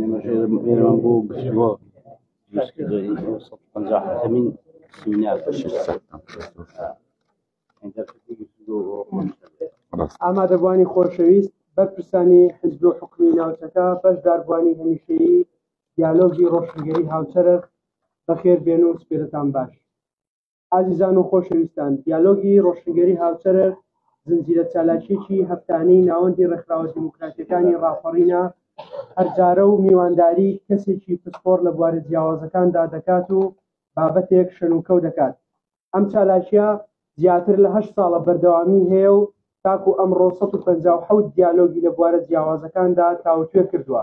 ئێمەش ئێرەمان بۆ گفتوگۆ دروستکردەوەی ئەو سەد و پەنجا حەکەمین سیمینار ئامادەبوانی خۆشەویست بەرپرسانی حزب و حکومی ناوچەکە بەشداربوانی هەمیشەیی دیالۆگی ڕۆشنگەری هاوچەرخ بەخێر بێن و سپێرتان باش ئازیزان و خۆشەویستان دیالۆگی ڕۆشنگەری هاوچەرەر زنجیرە چالاکیەکی هەفتانەی ناوەندی ڕێکخراوە دیموکراتەکانی ڕاپەڕینە هەرجارە و میوانداری کەسێکی پسپۆر لە بوارە جیاوازەکاندا دەکات و بابەتێک شەنوکەو دەکات ئەم چالاکیە زیاتر لە هەشت ساڵە بەردەوامی هەیە و تاکو ئەمڕۆ 157 دیالۆگی لە بوارە جیاوازەکاندا تاوتوێ کردووە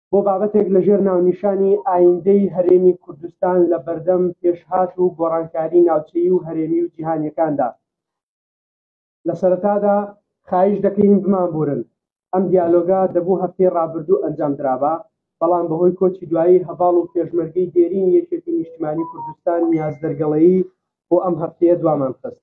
بۆ بابەتێک لەژێر ناونیشانی ئایندەی هەرێمی کوردستان لە بەردەم پێشهات و گۆڕانکاری ناوچەیی و هەرێمی و جیهانیەکاندا لە سەرەتادا خایش دەکەین بمانبورن ئەم دیالۆگا دەبوو هەفتەی ڕابردوو ئەنجام درابا بەڵام بەهۆی کۆچی دوایی هەڤاڵ و پێشمەرگەی دێرین یەکێتی نیشتمانی کوردستان نیاز دەرگەڵەیی بۆ ئەم هەفتەیە دوامان خست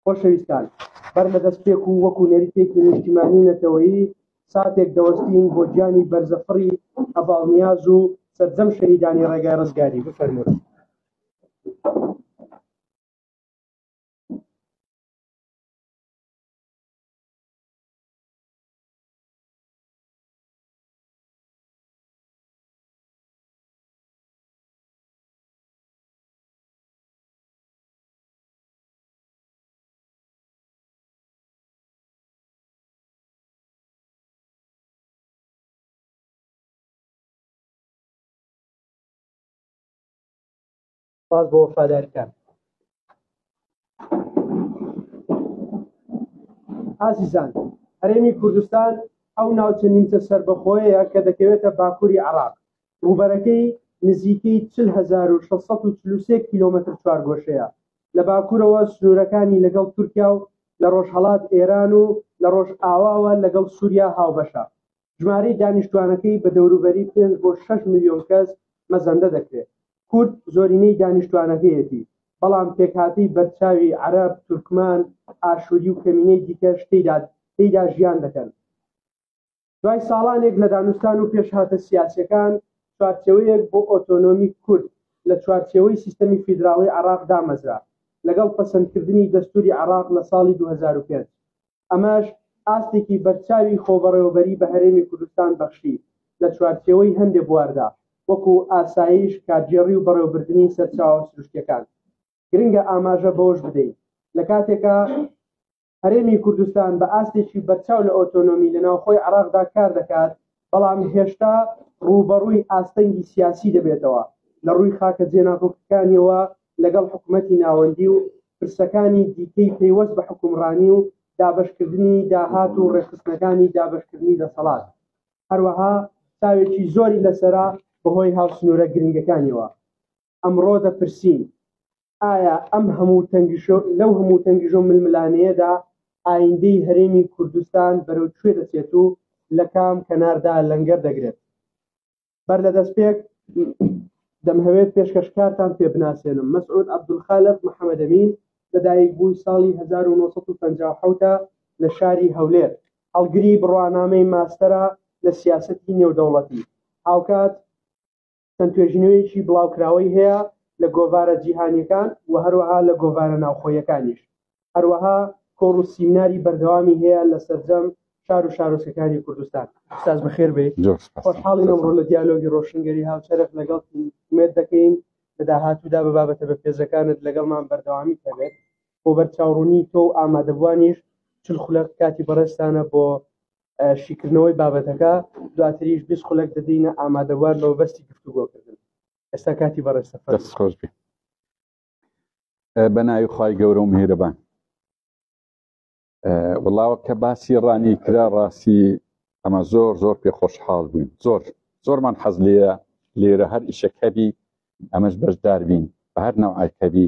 خۆشەویستان بەر لە دەست پێک و وەکو نەریتێکی نیشتیمانی و نەتەوەیی ساتێک دەوەستین بۆ گیانی بەرزەفڕی هەڤاڵنیاز و سەرجەم شەهیدانی ڕێگای ڕزگاری بفەرموون سپاس بۆ وەفادارکان ئازیزان هەرێمی کوردستان ئەو ناوچە نیمچە سربەخۆیەیە کە دەکەوێتە باکووری عراق ڕووبەرەکەی نزیکەی 40643 کیلۆمەتر چوارگۆشەیە لە باکوورەوە سنوورەکانی لەگەڵ تورکیا و لە ڕۆژهەڵات ئێران و لە ڕۆژئاواوە لەگەڵ سووریا هاوبەشە ژمارەی دانیشتوانەکەی بە دەوروبەری 5 بۆ 6 ملیۆن کەس مەزەندە دەکرێت کورد زۆرینەی دانیشتوانەکەیەتی بەڵام پێکهاتەی بەرچاوی عەرەب تورکمان ئاشووری و کەمینەی دیکەش تێدا تێدا ژیان دەکەن دوای ساڵانێک لە دانوستان و پێشهاتە سیاسەکان چوارچەوەیەک بۆ ئۆتۆنۆمی کورد لە چوارچەوەی سیستەمی فیدراڵی عراق دامەزرا لەگەڵ پەسەندکردنی دەستوری عراق لە ساڵی 2005 ئەمەش ئاستێکی بەرچاوی خۆبەڕێوەبەری بە هەرێمی کوردستان بەخشی لە چوارچێوەی هەندێ بواردا وەکو ئاسایش کارگێڕی و بەڕێوبردنی سەرچاوە سروشتەکان گرنگە ئاماژە بەوەش بدەین لە کاتێکا هەرێمی کوردستان بە ئاستێکی بەرچاو لە ئۆتۆنۆمی لە ناوخۆی عێراقدا کار دەکات، بەڵام هێشتا ڕووبەڕووی ئاستەنگی سیاسی دەبێتەوە لە ڕووی خاکە جێناکۆکەکانییەوە لەگەڵ حکومەتی ناوەندی و پرسەکانی دیکەی پەیوەست بە حوکمڕانی و دابەشکردنی داهات و ڕێکخستنەکانی دابەشکردنی دەسەڵات هەروەها چاوێکی زۆری لەسەرە بەهۆی هاوسنوورە گرنگەکانییەوە. ئەمڕۆ دەپرسین ئایا ئەم هەموو تەنگیشۆ لەو هەموو تەنگیژۆ ململانێیەدا ئایندەی هەرێمی کوردستان بەرەو کوێ دەچێت و لە کام کەناردا لەنگەر دەگرێت بەر لە دەستپێک دەمهەوێت پێشکەشکارتان پێ بناسێنم مەسعود عبدولخالق محەممەدەمین لەدایک بووی ساڵی 1950 لە شاری هەولێر هەڵگری بڕوانامەی ماستەرە لە سیاستی نێودەوڵەتی هاوکات چەند توێژینەوەیەکی بڵاوکراوەی هەیە لە گۆڤارە جیهانیەکان و هەروەها لە گۆڤارە ناوخۆیەکانیش هەروەها کۆڕ و سیمناری بەردەوامی هەیە لە سەرجەم شار و شارۆچکەکانی کوردستان استاذ بەخێر بێ خۆشحاڵی ئەمڕۆ لە دیالۆگی ڕۆشنگەری هاوچەرخ لەگەڵ مێت دەکەین لە داهاتوودا بە بابەتە بە پێزەکانت لەگەڵمان بەردەوامی هەبێت بۆ بەرچاوڕوونی تۆ و ئامادەبووانیش چل خولەق کاتی بەڕێستانە بۆ شیکردنەوەی بابەتەکە دواتریش بیست خولەک دەدەینە ئامادەوار بە بەستی گفتوگۆکردن ئێستا کاتی بەڕێ سەفەر خۆش بێ بە ناوی خی گەورە و میهرەبان وڵاوە کە باسی ڕانی کرا ڕاستی ئەمە زۆر زۆر پێ خۆشحاڵ بووین زۆر زۆرمان حەز لێە لێرە هەر ئیشەکەبی ئەمەش بەشدار بین بە هەر ناوعکەبی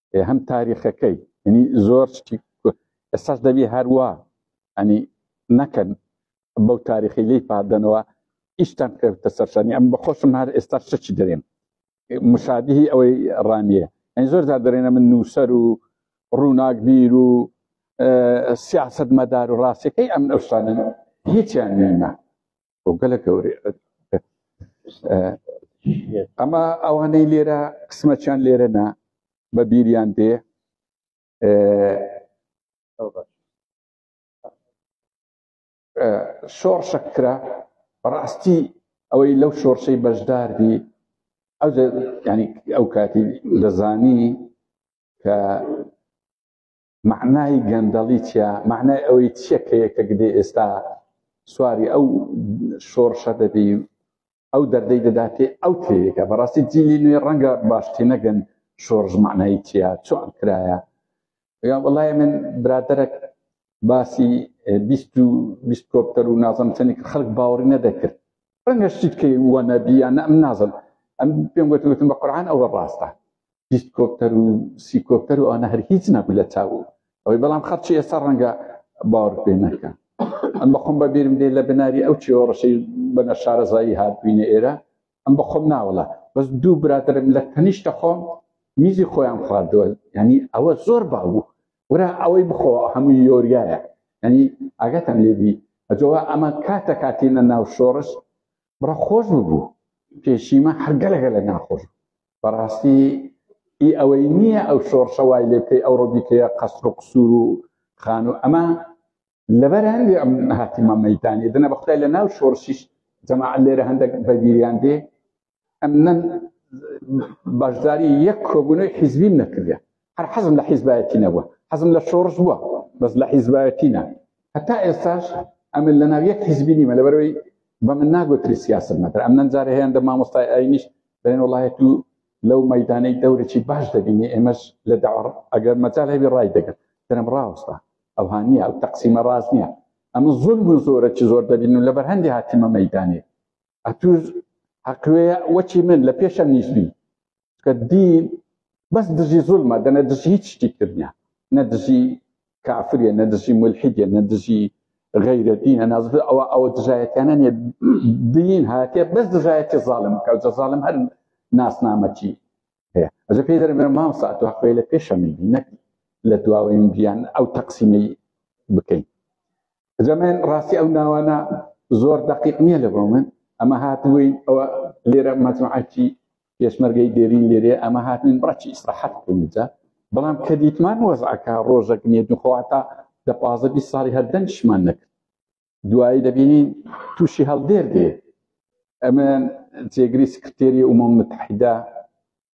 هەم تاریخەکەی ینی زۆر شتی ئێستاش دەبی هەروە ئەنی نەکەن بەو تاریخی لی پادەنەوە ئیشتان کردتە سەرشانی ئەم بەخۆشم هەر ئێستا شتچی دەێن مشادیهی ئەوەی ڕانیە ئەنی زۆر دا دەێنە من نووسەر و ڕووناک بیر و سیاست مەدار و ڕاستەکەی ئەم ئەوشتانە هیچیان نێمە بۆ گەلە گەورە ئەمە ئەوانەی لێرە قسمەچیان لێرە نا بە بیریان دێ شۆڕشە کرا بەڕاستی ئەوەی لەو شۆرشەی بەشدار بی ئەو ینی ئەو کاتی دەزانی کە مەعنای گەندەڵی چیە مەعنای ئەوەی چیە کە یەکێک دێ ئێستا سواری ئەو شۆڕشە دەبی ئەو دەردەی دەداتێ ئەو تێگە بەڕاستی جیلی نوێ ڕەنگە باشتی نەگەن شۆڕژ معنایی چیە چۆن کرایە یا وڵای من برادرەک باسی بیست و بیست کۆپتەر و نازم چەندی خەڵک باوەڕی نەدەکرد ڕەنگە شتیت کەی وە نەبیە نە من نازم ئەم پێم گوتوتم بە قورآان ئەوە ڕاستە دیسکۆپتەر و سیکۆپتەر و ئەوانە هەر هیچ نەبوو لە چاوو ئەوەی بەڵام خەرچی ئێستا ڕەنگە باوەڕ پێ نەکە ئەم بەخۆم بە بیرم دێ لە بناری ئەو چێوە ڕەشەی بەنە شارەزایی هاتبووینە ئێرە ئەم بەخۆم ناوەڵە بەس دوو برادرم لە تەنیشتە خۆم میزی خۆیان خواردووە ینی ئەوە زۆر باوو ورا ئەوەی بخۆ هەمووی یۆریایە ئەنی ئاگاتان لێبی ئەجەوە ئەمە کاتە کاتینە ناو شۆڕش بڕە خۆش ببوو پێشیمە هەرگەلەگە لە ناخۆش بەڕاستی ئی ئەوەی نییە ئەو شۆڕشە وای لێ بکەی ئەو ڕۆبیکەیە قەسر و قسوور و خان و ئەمە لەبەر هەندێ ئەم هاتیمە مەدانی دنە بەخدای لە ناو شۆڕشیش جەماعە لێرە هەندێک بەبیریان دێ ئەمن بەشداری یەک کۆبوونەوەی حیزبیم نەکردێ هەر حەزم لە حیزبایەتی نەبووە حەزم لە شۆڕش بووە بەس لە حیزبایەتی نە هەتا ئێستاش ئەمن لە ناو یەک حیزبی نیمە لەبەرەوەی بە من ناگوتری سیاست مەتر ئەم نەنجارە هەیەن دە مامۆستای ئاینیش دەێن وڵایەت و لەو مەدانەی دەورێکی باش دەبینی ئێمەش لە داڕ ئەگەر مەجال هەبی ڕای دەگەن دەرم ڕاوەستا ئەو هاانە ئەو تەقسیمە ڕاست نییە ئەمە زۆر بوو زۆرە چ زۆر دەبین و لە بەرهەندی هاتیمە مەدانێت ئەتوش هەقوێ وەچی من لە پێشەم نیشبی کە دین بەس دژی زولمە دەنە دژی هیچ شتی کردە نە دژی کافرە نە دژی ملحیدە نە دژی غیرە دینە ناز ئەوە ئەوە دژایەتیانە نیە دین هاتێ بەس دژایەتی زالم کە زالم هەر ناسنامەچی هەیە ئەجە پێی دەرم مام ساعت و حقوێ لە پێشەمی نەک لە دواوەیم بیان ئەو تەقسیمەی بکەین جەمێ ڕاستی ئەو ناوانە زۆر دقیق نییە لە بۆ من ئەمە هاتووی ئەوە لێرە مەجموعەکی پێشمەرگەی دێرین لێرێ ئەمە هاتنین بڕکی ئیسراحەت بکەینجا بەڵام کە دیتمان وەزعەکە ڕۆژەک نیە دوخواتا دە پازە بی ساڵی هەردەنگشمان نەکرد دوایی دەبینین تووشی هەڵدێر دێ ئەمە جێگری سکرتێری ئومەم متحیدا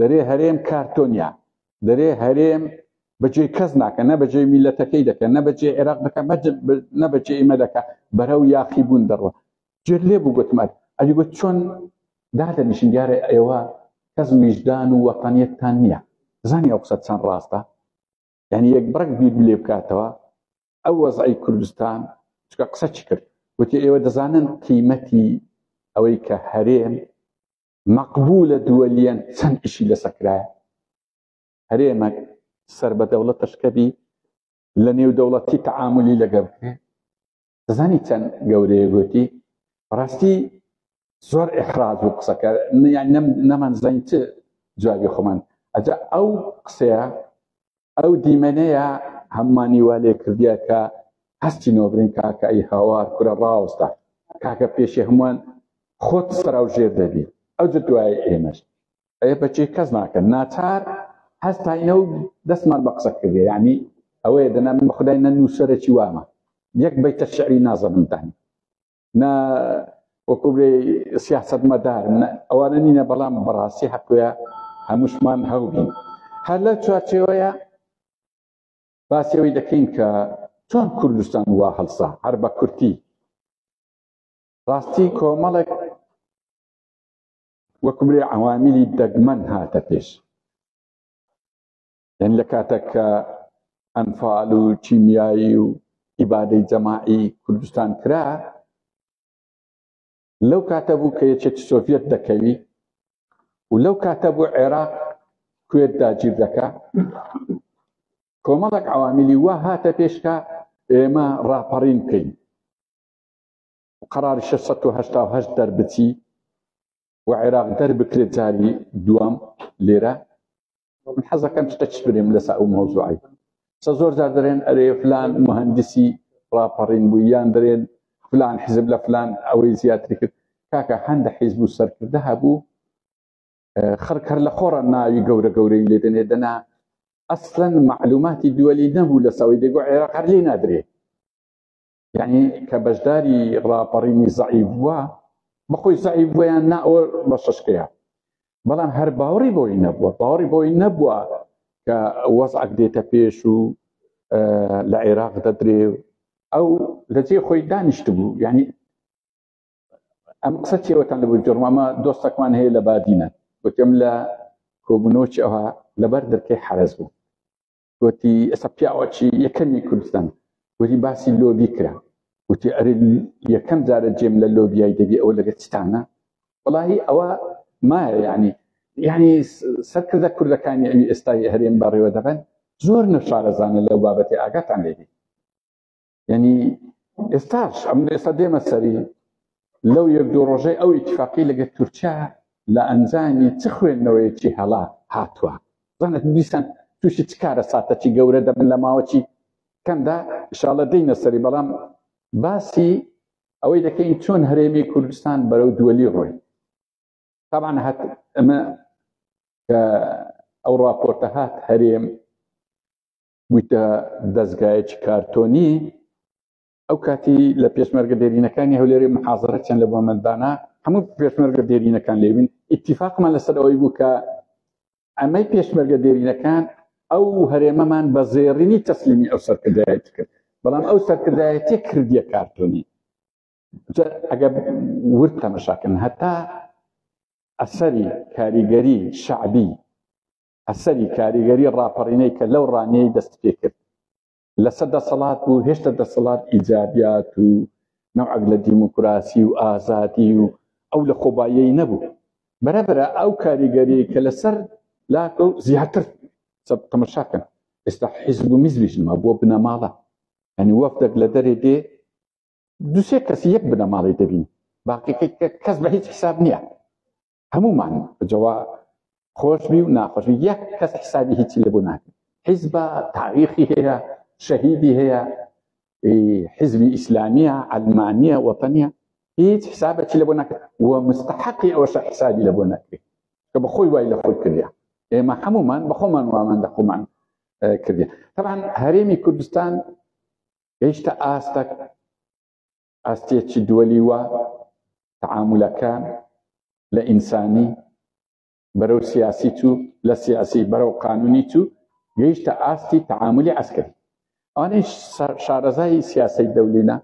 دەرێ هەرێم کارتۆنیا دەرێ هەرێم بەجێ کەس ناکە نە بەجێ میلەتەکەی دەکە نە بەجێ عێراق دەکە نە بەجێ ئمە دەکە بەرەو یاقی بوون دەڕوە جێر لێ بوو گوتمان ئەلی گوت چۆن دادەنیشن دیارە ئێوە کەس میژدان و وەتانیەتتان نییە زانی ئەو قسە چەند ڕاستە یعنی یەک بڕک بیر لێ بکاتەوە ئەو وەزعی کوردستان چکە قسە چی کرد وتی ئێوە دەزانن قیمەتی ئەوەی کە هەرێم مەقبولە دووەلیەن چەند ئیشی لەسەکرایە هەرێمە سەر بە دەوڵەت تەشکەبی لە نێو دەوڵەتی تەعاملی لەگە بکرێ دەزانی چەند گەورەیە گوتی ڕاستی زۆر ئەخراز و قسەکە یان نەمان زەین چ جوابی خۆمان ئەجا ئەو قسەیە ئەو دیمەنەیە هەممانی وا لێ کردیە کە هەستی نۆبرین کاکە ئەی هاوار کورە ڕاوستە کاکە پێشی هەمووان خۆت سەراو ژێر دەبی ئەو جە دوای ئێمەش ئەێ بەچی کەس ناکەن ناچار هەستاینە و دەستمان بە قسە کردێ ینی ئەوەیە دەنا من بەخدای نە نووسەرەی وامە یەک بەیتە شعری نازەمدانی نە وەکوبێ سیاست مەدار ئەوانە نینە بەڵام بەڕاستی حەقوە هەمووشمان هەوبین هەر لە چوارچێوەیە باسیەوەی دەکەین کە چۆن کوردستان وا هەڵسا هەر بە کورتی ڕاستی کۆمەڵێک وەکبرێ عوامیلی دەگمەن هاتە پێش یان لە کاتێک کە ئەنفال و کیمیایی و ئیبادەی جەماعی کوردستان کرا لەو کاتە بوو کە یەکێتی سۆڤەت دەکەوی و لەو کاتە بوو عێراق کوێت داگیر دەکا کۆمەڵک عوامیلی وا هاتە پێشکە ئێمە ڕاپەڕین بکەین قرار 6 دەربچی و عێراق دەربکرێت جاری دوام لێرە من حەزەکەم چتە چ بنێم لەسەر ئەو مەوزوعی سە زۆر جار دەرێن ئەرێ فلان مهندسی ڕاپەڕین بوو یان دەرێن فلان حزب لە فلان ئەوەی زیاتری کرد کاکە هەندە حیزب و سەرکردە هەبوو خەرکەر لە خۆڕە ناوی گەورە گەورەی لێ دەنێ دەنا ئەسلەن معلوماتی دووەلی نەبوو لە سەوەی دەگو عێراق هەر لێ نادرێت یعنی کە بەشداری ڕاپەڕینی زەعیف بووە بەخۆی زەعیف بوویان نا ئەوە بە شەشکەیە بەڵام هەر باوەڕی بۆی نەبووە باوەڕی بۆی نەبووە کە وەزعک دێتە پێش و لە عێراق دەدرێ ئەو لەجێ خۆی دانیشت بوو یعنی ئەم قسە چێوەتان لە بجۆڕمامە دۆستەکمان هەیە لە بادینە وتم لە کۆبنەوەی ئەوها لەبەر دەرکەی حرەز بوو وتی ئێستا پیاوەکی یەکەمی کوردستان وتی باسی لۆبی کرا وتی ئەرێ یەکەم جارە جێم لە لۆبیای دەبی ئەوە لەگە چتانە وڵی ئەوە مایە یعنی یعنی سەرکردە کوردەکانی ئەوی ئێستای هەرێم بەڕێوە دەبن زۆر نەشارەزانە لەو بابەتی ئاگاتان لێبی یعنی ئێستاش ئەم ئێستا دێمە سەری لەو یەک دوو ڕۆژەی ئەو ئیتفاقی لەگە تورکیا لە ئەنجامی چ خوێندنەوەیەکی هەڵا هاتووە زانت دیسان تووشی چ کارە ساتەکی گەورە دەبن لە ماوەکی کەمدا شاڵە دینە سەری بەڵام باسی ئەوەی دەکەین چۆن هەرێمی کوردستان بەرەو دووەلی ڕۆی تاان هەت ئەمە کە ئەو راپۆرتە هات هەرێم بوویتە دەزگایەکی کارتۆنی، ئەو کاتی لە پێشمەرگە دێرینەکانی هەولێری محازرە چەند لە بۆمەندانا هەموو پێشمەرگە دێرینەکان لێبین ئیتیفاقمان لەسەر ئەوەی بوو کە ئەمەی پێشمەرگە دێرینەکان ئەو هەرێمەمان بە زێڕینی تەسلیمی ئەو سەرکردایەت کرد بەڵام ئەو سەرکردایەتی کردیە کارتۆنی ئەگە ورد تەمەشاکن هەتا ئەسەری کاریگەری شعبی ئەسەری کاریگەری ڕاپەڕینەی کە لەو ڕانیەی دەست پێ کرد لەسەر دەسەڵات و هێشتا دەسەڵات ئیجابیات و نەوعەک لە دیموکراسی و ئازادی و ئەو لە خۆبایی نەبوو بەرەبرا ئەو کاریگەری کە لەسەر لاکە و زیاتر تەمەشاکەن ئێستا حیزب و میزلیشما بۆ بنەماڵە ینی وەفتێک لە دەرێ دێ دوسێ کەسی یەک بنەماڵی دەبین باقیەکە کەس بە هیچ حساب نییە هەموومان جەوا خۆشبی و ناخۆشبی یەک کەس حسابی هیچی لێ بۆ ناکەن حیزبە تاریخی هەیە شەهیدی هەیە حزبی ئیسلامیە ئەلمانیە وەتەنە هیچ حسابەتی لە بۆ ناکرێت و مستحقی ئەوە شە حسابی لە بۆ ناکرێت کە بە خۆی وای لە خۆی کردیا ئێمە هەمومان بە خۆمان وامان لە خۆمان کردی طبعا هەرێمی کوردستان هێشتا ئاستە ئاستێ چ دووەلی وا تعاملەکە لە ئینسانی بەرەو سیاسی تو لە سیاسی بەرەو قانونی تو گەیشتە ئاستی تعاملی عسکری ئەوانەی شارەزایی سیاسی دەولینە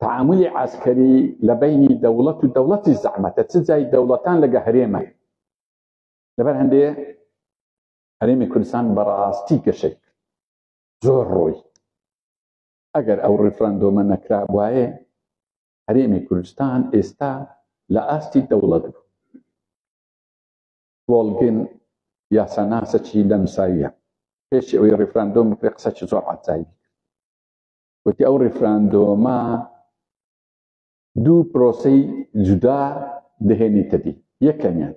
تعاملی عسکری لە بینی دەوڵەت و دەوڵەتی زەحمەتە چ جای دەوڵەتان لەگە هەرێمە لەبەر هەندێ هەرێمی کوردستان بەڕاستی گەشێک زۆر ڕۆی ئەگەر ئەو ڕیفراندۆمە نەکرابوایە هەرێمی کوردستان ئێستا لە ئاستی دەوڵەت بوو بۆڵگن یاساناسەکی لەم ساییە پێشی ئەوەی ڕیفراندۆم بکرێ قسەکی زۆر عزایی وتی ئەو ڕیفراندۆمە دوو پرۆسی جودا دەهێنیتە دی یەکەمیان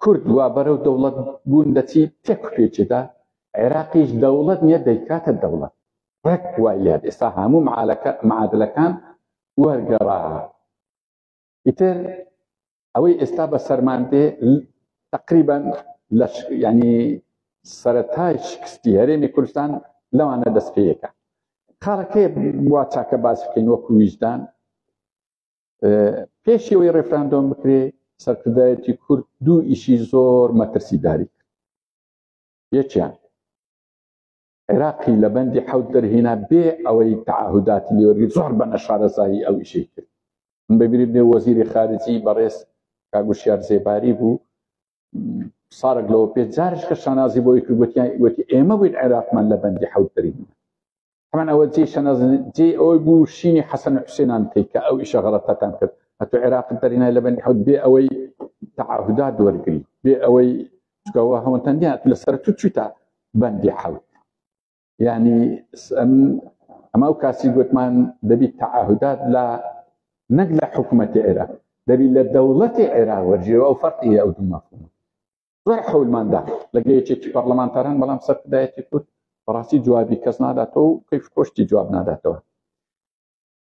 کورد وا بەرەو دەوڵەت بوون دەچی تێک پێچێدا عێراقیش دەوڵەت نیە دەیکاتە دەوڵەت ڕێک وای لێ ئێستا هەموو معالەکە معادلەکان وەرگەڕا ئیتر ئەوەی ئێستا بە سەرمان دێ تقریبا لە ینی سەرەتای شکستی هەرێمی کوردستان لەوانە دەستپێیەکە خاڵەکەی وا چاکە باس بکەین وەکو ویژدان پێشەوەی ڕێفراندۆم بکرێ سەرکردایەتی کورد دوو ئیشی زۆر مەترسیداری کرد یەکیان عێراقی لە بەندی حەوت دەرهێنا بێ ئەوەی تعهداتی لێوەرگی زۆر بە نەشارەزایی ئەو ئیشەی کرد ببیری بێ وەزیری خارجی بەڕێز کاگوشیار زێباری بوو سارک لەوە پێ جارش کە شانازی بۆی کردوەتی ئێمە بووین عێراقمان لە بەندی حەوت دەرین هەمان ئەوە جێ شەنەز جێ ئەوەی بوو شینی حەسەن حوسێنان بکەیت کە ئەو ئیشە غەڵەتەتان کرد ئەتو عێراقت دەرینای لە بەنی حوت بێ ئەوەی تەعاهودات وەرگری بێ ئەوەی چکەوە هەوەتەن دیان لەسەر تو چیتا بەندی حەوت یعنی ئەما و کاسی گوتمان دەبیت تەعاهودات لە نەک لە حکوومەتی عێراق دەبی لە دەوڵەتی عێراق وەرجێەوە ئەو فەرقی ئەو دوو مەفهوم زۆر حەولمان دا لەگە یەکێتی پەرلەمانتاران بەڵام سەرکردایەتی کورد بەڕاستی جوابی کەس ناداتەوە و کەیف خۆشتی جواب ناداتەوە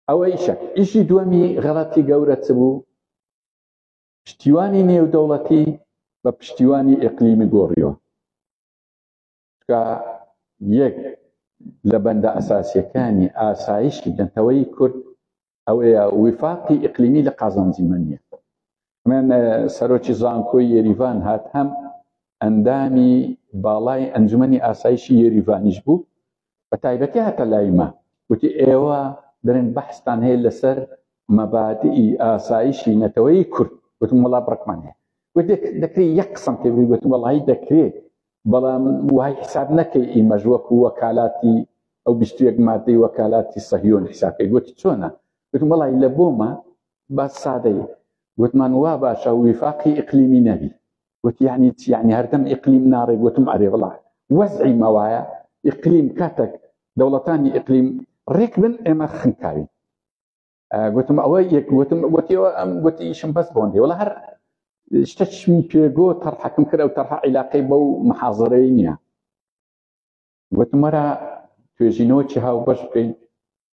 ئەوە ئیشە ئیشی دووەمی غەڵەتی گەورە چ بوو پشتیوانی نێودەوڵەتی بە پشتیوانی ئەقلیمی گۆڕیەوە کە یەک لە بەندە ئەساسیەکانی ئاسایشی نەتەوەی کورد ئەوەیە وفاقی ئیقلیمی لە قازانجی من نیە من سەرۆکی زانکۆی یریڤان هات هەم ئەندامی باڵای ئەنجومی ئاسایشی یریڤانیش بوو بە تایبەتی هاتە لایمە وتی ئێوە دەرێن بەحستان هەیە لەسەر مەبادی ئاسایشی نەتەوەی کورد وتم وڵا بڕکمان هەیە دەکرێت یەک قسم پێ بگوتم وڵی دەکرێت بەڵام وای حساب نەکەی ئیمەژ وەکو وەکالاتی ئەو بیست و یەک مادەی وەکالاتی سەهیۆن حسابکەی گوتی چۆنە گوتم وەڵی لە بۆمە با سادەی گوتمان وا باشە ویفاقی ئیقلیمی نەبی گوتی یعنی چی یعنی هەردەم ئیقلیم ناڕێ گوتم ئەرێ وڵا وەزعی مەوایە ئیقلیم کاتەک دەوڵەتانی ئیقلیم ڕێک بن ئێمە خنکاوین گوتم ئەوە یەک گوتم گوتیەوە ئەم گوتی ئیشم بەس بۆندی وڵە هەر شتە چمی پێگۆ تەرحەکم کرد و تەرح عیلاقەی بەو محازرەی نییە وتمەرە توێژینەوە چی هاو بەش بکەین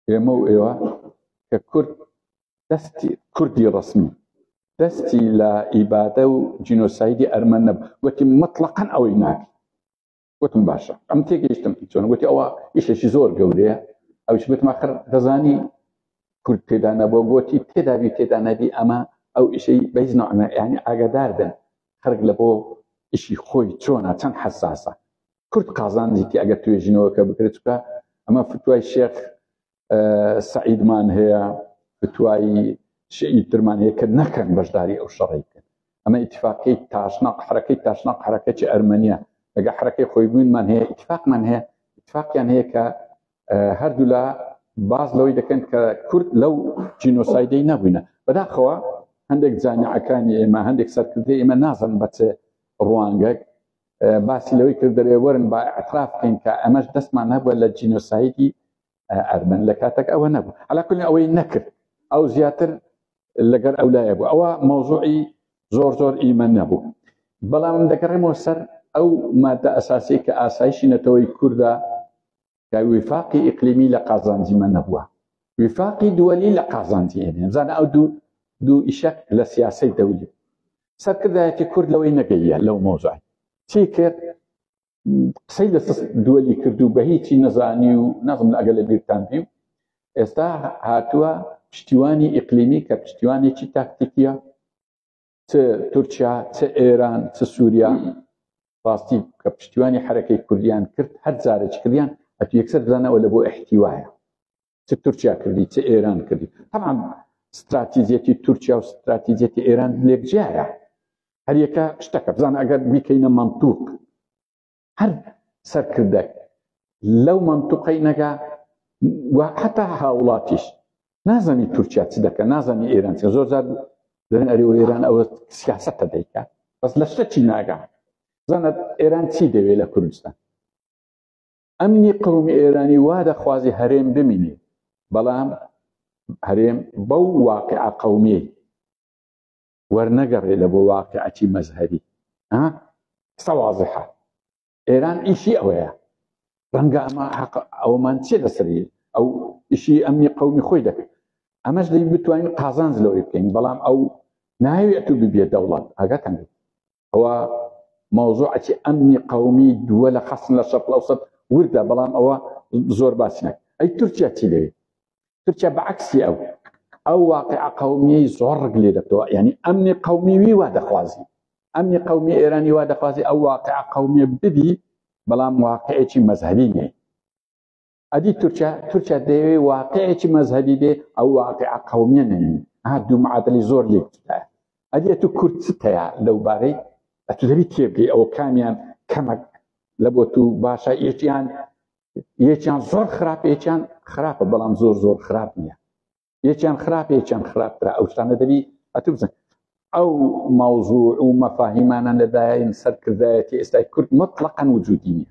ئێمە و ئێوە کە کورد دەستی کوردی ڕسمی دەستی لە ئیبادە و جینۆسایدی ئەرمەن نەب وتی مطلقەن ئەوەی ناکە وتم باشە ئەم تێگەیشتم چۆن وتی ئەوە ئیشێکی زۆر گەورەیە ئەوش وتم آخر دەزانی کورد تێدا نەبوو گوتی تێدابی تێدا نەبی ئەمە ئەو ئیشەی بەیز نوعمە یعنی ئاگادار بن خەرک لە بۆ ئیشی خۆی چۆنە چەند حساسە کورد قازانجیتی ئەگەر توێژینەوەکە بکرێت چکە ئەمە فتوای شێخ سعیدمان هەیە فتوایی شیعی ترمان هەیە کە نەکەن بەشداری ئەو شەڕی کرد ئەمە اتفاقی تاشناق حرەکەی تاشناق حرەکەی ئەرمەنیا لەگە حرەکەی خۆی بوونمان هەیە اتفاقمان هەیە اتفاقیان هەیە کە هەردوولا باز لەوەی دەکەن کە کورد لەو جینۆسایدەی نەبووینە بەداخەوە هەندێک جانعەکانی ئێمە هەندێک سەرکردی ئێمە نازم بەچێ ڕوانگەک باسی لەوەی کرد دەرێ وەرن با ئەتراف بکەین کە ئەمەش دەستمان هەبووە لە جینۆسایدی ئەرمەن لە کاتەک ئەوە نەبوو علاکل ئەوەی نەکرد ئەو زیاتر لەگەر ئەو لایە بوو ئەوە مەوزوعی زۆر زۆر ئیمە نەبوو بەڵام دەگەڕێمەوە سەر ئەو مادە ئەساسی کە ئاسایشی نەتەوەی کووردا کە وفاقی ئیقلیمی لە قازانجیمە نەبووە وفاقی دووەلی لە قازانجی ئێنێزانە ئەو دوو دوو ئیشەک لە سیاسی دەولی سەرکردایەتی کورد لەوەی نەگەیە لەو مۆزای چی کرد قسەی لە سست دووەلی کرد و بە هیچی نەزانی و نەزم ئەگە لە بیرتان بی و ئێستا هاتووە پشتیوانی ئیقلیمی کە پشتیوانێکی تاکتیکیە چ تورکیا چ ئێران چ سووریا ڕاستی کە پشتیوانی حرەکەی کوردیان کرد هەر جارێک کردیان ئەتو یەکسەر بزانەوە لە بۆ احتیواە چ تورکیا کردی چ ئێران کردی تەعام ستراتیزیەتی تورکیا و ستراتیزیەتی ئێران لێک جیایە هەریەکە شتەکە بزان ئەگەر بیکەینە مەمتوق هەر سەرکردەک لەو مەمتوقەی نەگا و حتا هاوڵاتیش نازانی تورکیا چ دەکە نازانی ئێران چ زۆر زار دەن ئەریەوە ئێران ئەوە سیاستە دەیکات بەس لە شتەکی ناگا زانەت ئێران چی دەوێت لە کوردستان ئەمنی قەومی ئێرانی وا دەخوازی هەرێم بمینێ بەڵام هەرێم بەو واقع قەومی وەرنەگەڕێ لە بۆ واقعەتی مەزهری سەوازحە ئێران ئیشی ئەوەیە ڕەنگە ئەمە حق ئەومان چێ لەسەری ئەو ئیشی ئەمنی قەومی خۆی دەکەن ئەمەش دەی بتوانین قازانج لەوەی بکەین بەڵام ئەو ناوێت و ببێت دەوڵات ئاگاتان ئەوە مەوزوعەتی ئەمنی قەومی دووە لە حەسن لە شەق لەوسەد وردە بەڵام ئەوە زۆر باسی نەک ئەی تورکیا چی لەوێ تورکیا بەعکسی ئەو ئەو واقع قەومیەی زۆرڕک لێ دەکەوە ینی ئەمنی قەومیوی وا دەخوازی ئەمنی قەومی ئێرانی وا دەخوازی ئەو واقع قەومیە ببی بەڵام واقعێکی مەزهبی نێ ئەدی تورکیا تورکیا دەیەوێ واقعێکی مەزهبی بێ ئەو واقع قومیە نەنی ها دوو معادلی زۆر لێکتدا ئەدیە تو کورد تەیە لەو بارەی ئەتو دەبی تێبگەی ئەو کامیان کەمەک لە بۆ تو باشە یەکیان یەکیان زۆر خراپ یەکیان خراپە بەڵام زۆر زۆر خراپ نییە یەکیان خراپ یەکیان خراپترا ئەو شتانە دەبی ئەتو بزن ئەو ماوزوع و مەفاهیمانان لەدایین سەرکردایەتی ئێستای کورد مطلقەن وجودی نیە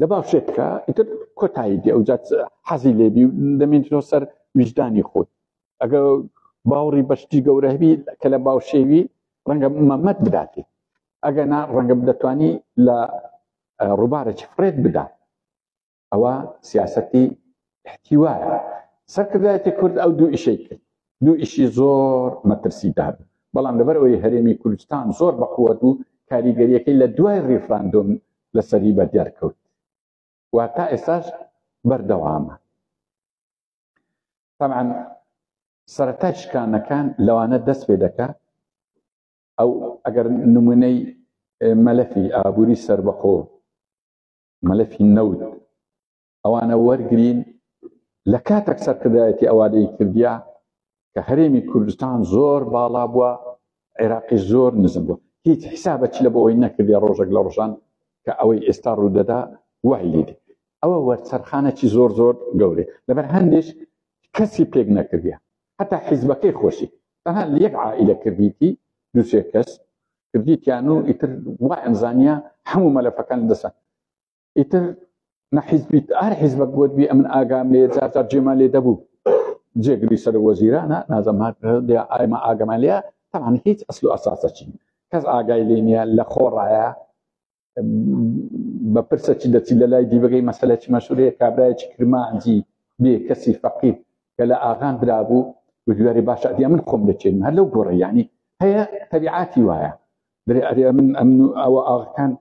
لە باوشێکە ئیتر کۆتایی دی ئەوجات حەزی لێبی و دەمێنەوە سەر ویژدانی خۆت ئەگە باوڕی بەشتی گەورەبی کە لە باوشێوی ڕەنگە مەمەت بداتی ئەگە نا ڕەنگە دەتوانی لە ڕووبارە چ فرێت بدات ئەوە سیاستی احتیوایە سەرکردایەتی کورد ئەو دوو ئیشەی کرد دوو ئیشی زۆر مەترسیدار بەڵام لەبەر ئەوەی هەرێمی کوردستان زۆر بەقووەت و کاریگەریەکەی لە دوای ریفراندۆم لەسەری بە دیارکەوت و تا ئێستاش بەردەوامە تەمان سەرەتای شکانەکان لەوانە دەست پێ دەکە ئەو ئەگەر نمونەی مەلەفی ئابووری سربەخۆ مەلەفی نەوت ئەوانە وەرگین لە کاتێک سەرکردایەتی ئەوانەی کردیا کە هەرێمی کوردستان زۆر باڵا بووە عێراقی زۆر نزم بوو هیچ حسابە چ لە بۆ ئەوی نەکردی ڕۆژێک لە ڕۆژان کە ئەوەی ئێستا ڕوودەدا وای لێدی ئەوە وەرچەرخانەی زۆر زۆر گەورێ لەبەر هەندێک کەسی پێک نەکردە هەتا حیزبەکەی خۆشی تەها یەک عائلە کردیتی دوسێ کەس کردیتیان و ئیتر وا ئەمزانیا هەموو مەلەفەکان دەسە ئیتر نە حیزبی هەر حیزبەک بۆت بی ئەمن ئاگام لێ جار جار جێمان لێ دەبوو جێگری سەر وەزیرانە نازم هات ئایمە ئاگەمان لێە تەمان هیچ ئەسل و ئەساسە چین کەس ئاگای لێ نیە لە خۆڕایە بە پرسە چی دەچی لە لای دیبگەی مەسلە چی مەشورەیە کابراایکی کرمانجی بێ کەسی فەقیت کە لە ئاغان درابوو و دوێری باشە ئەدی من خۆم دەچێن هەر لەو گۆڕیانی هەیە تەبیعاتی وایە درێ ئەرێ من ئەمن ئەوە ئاغکان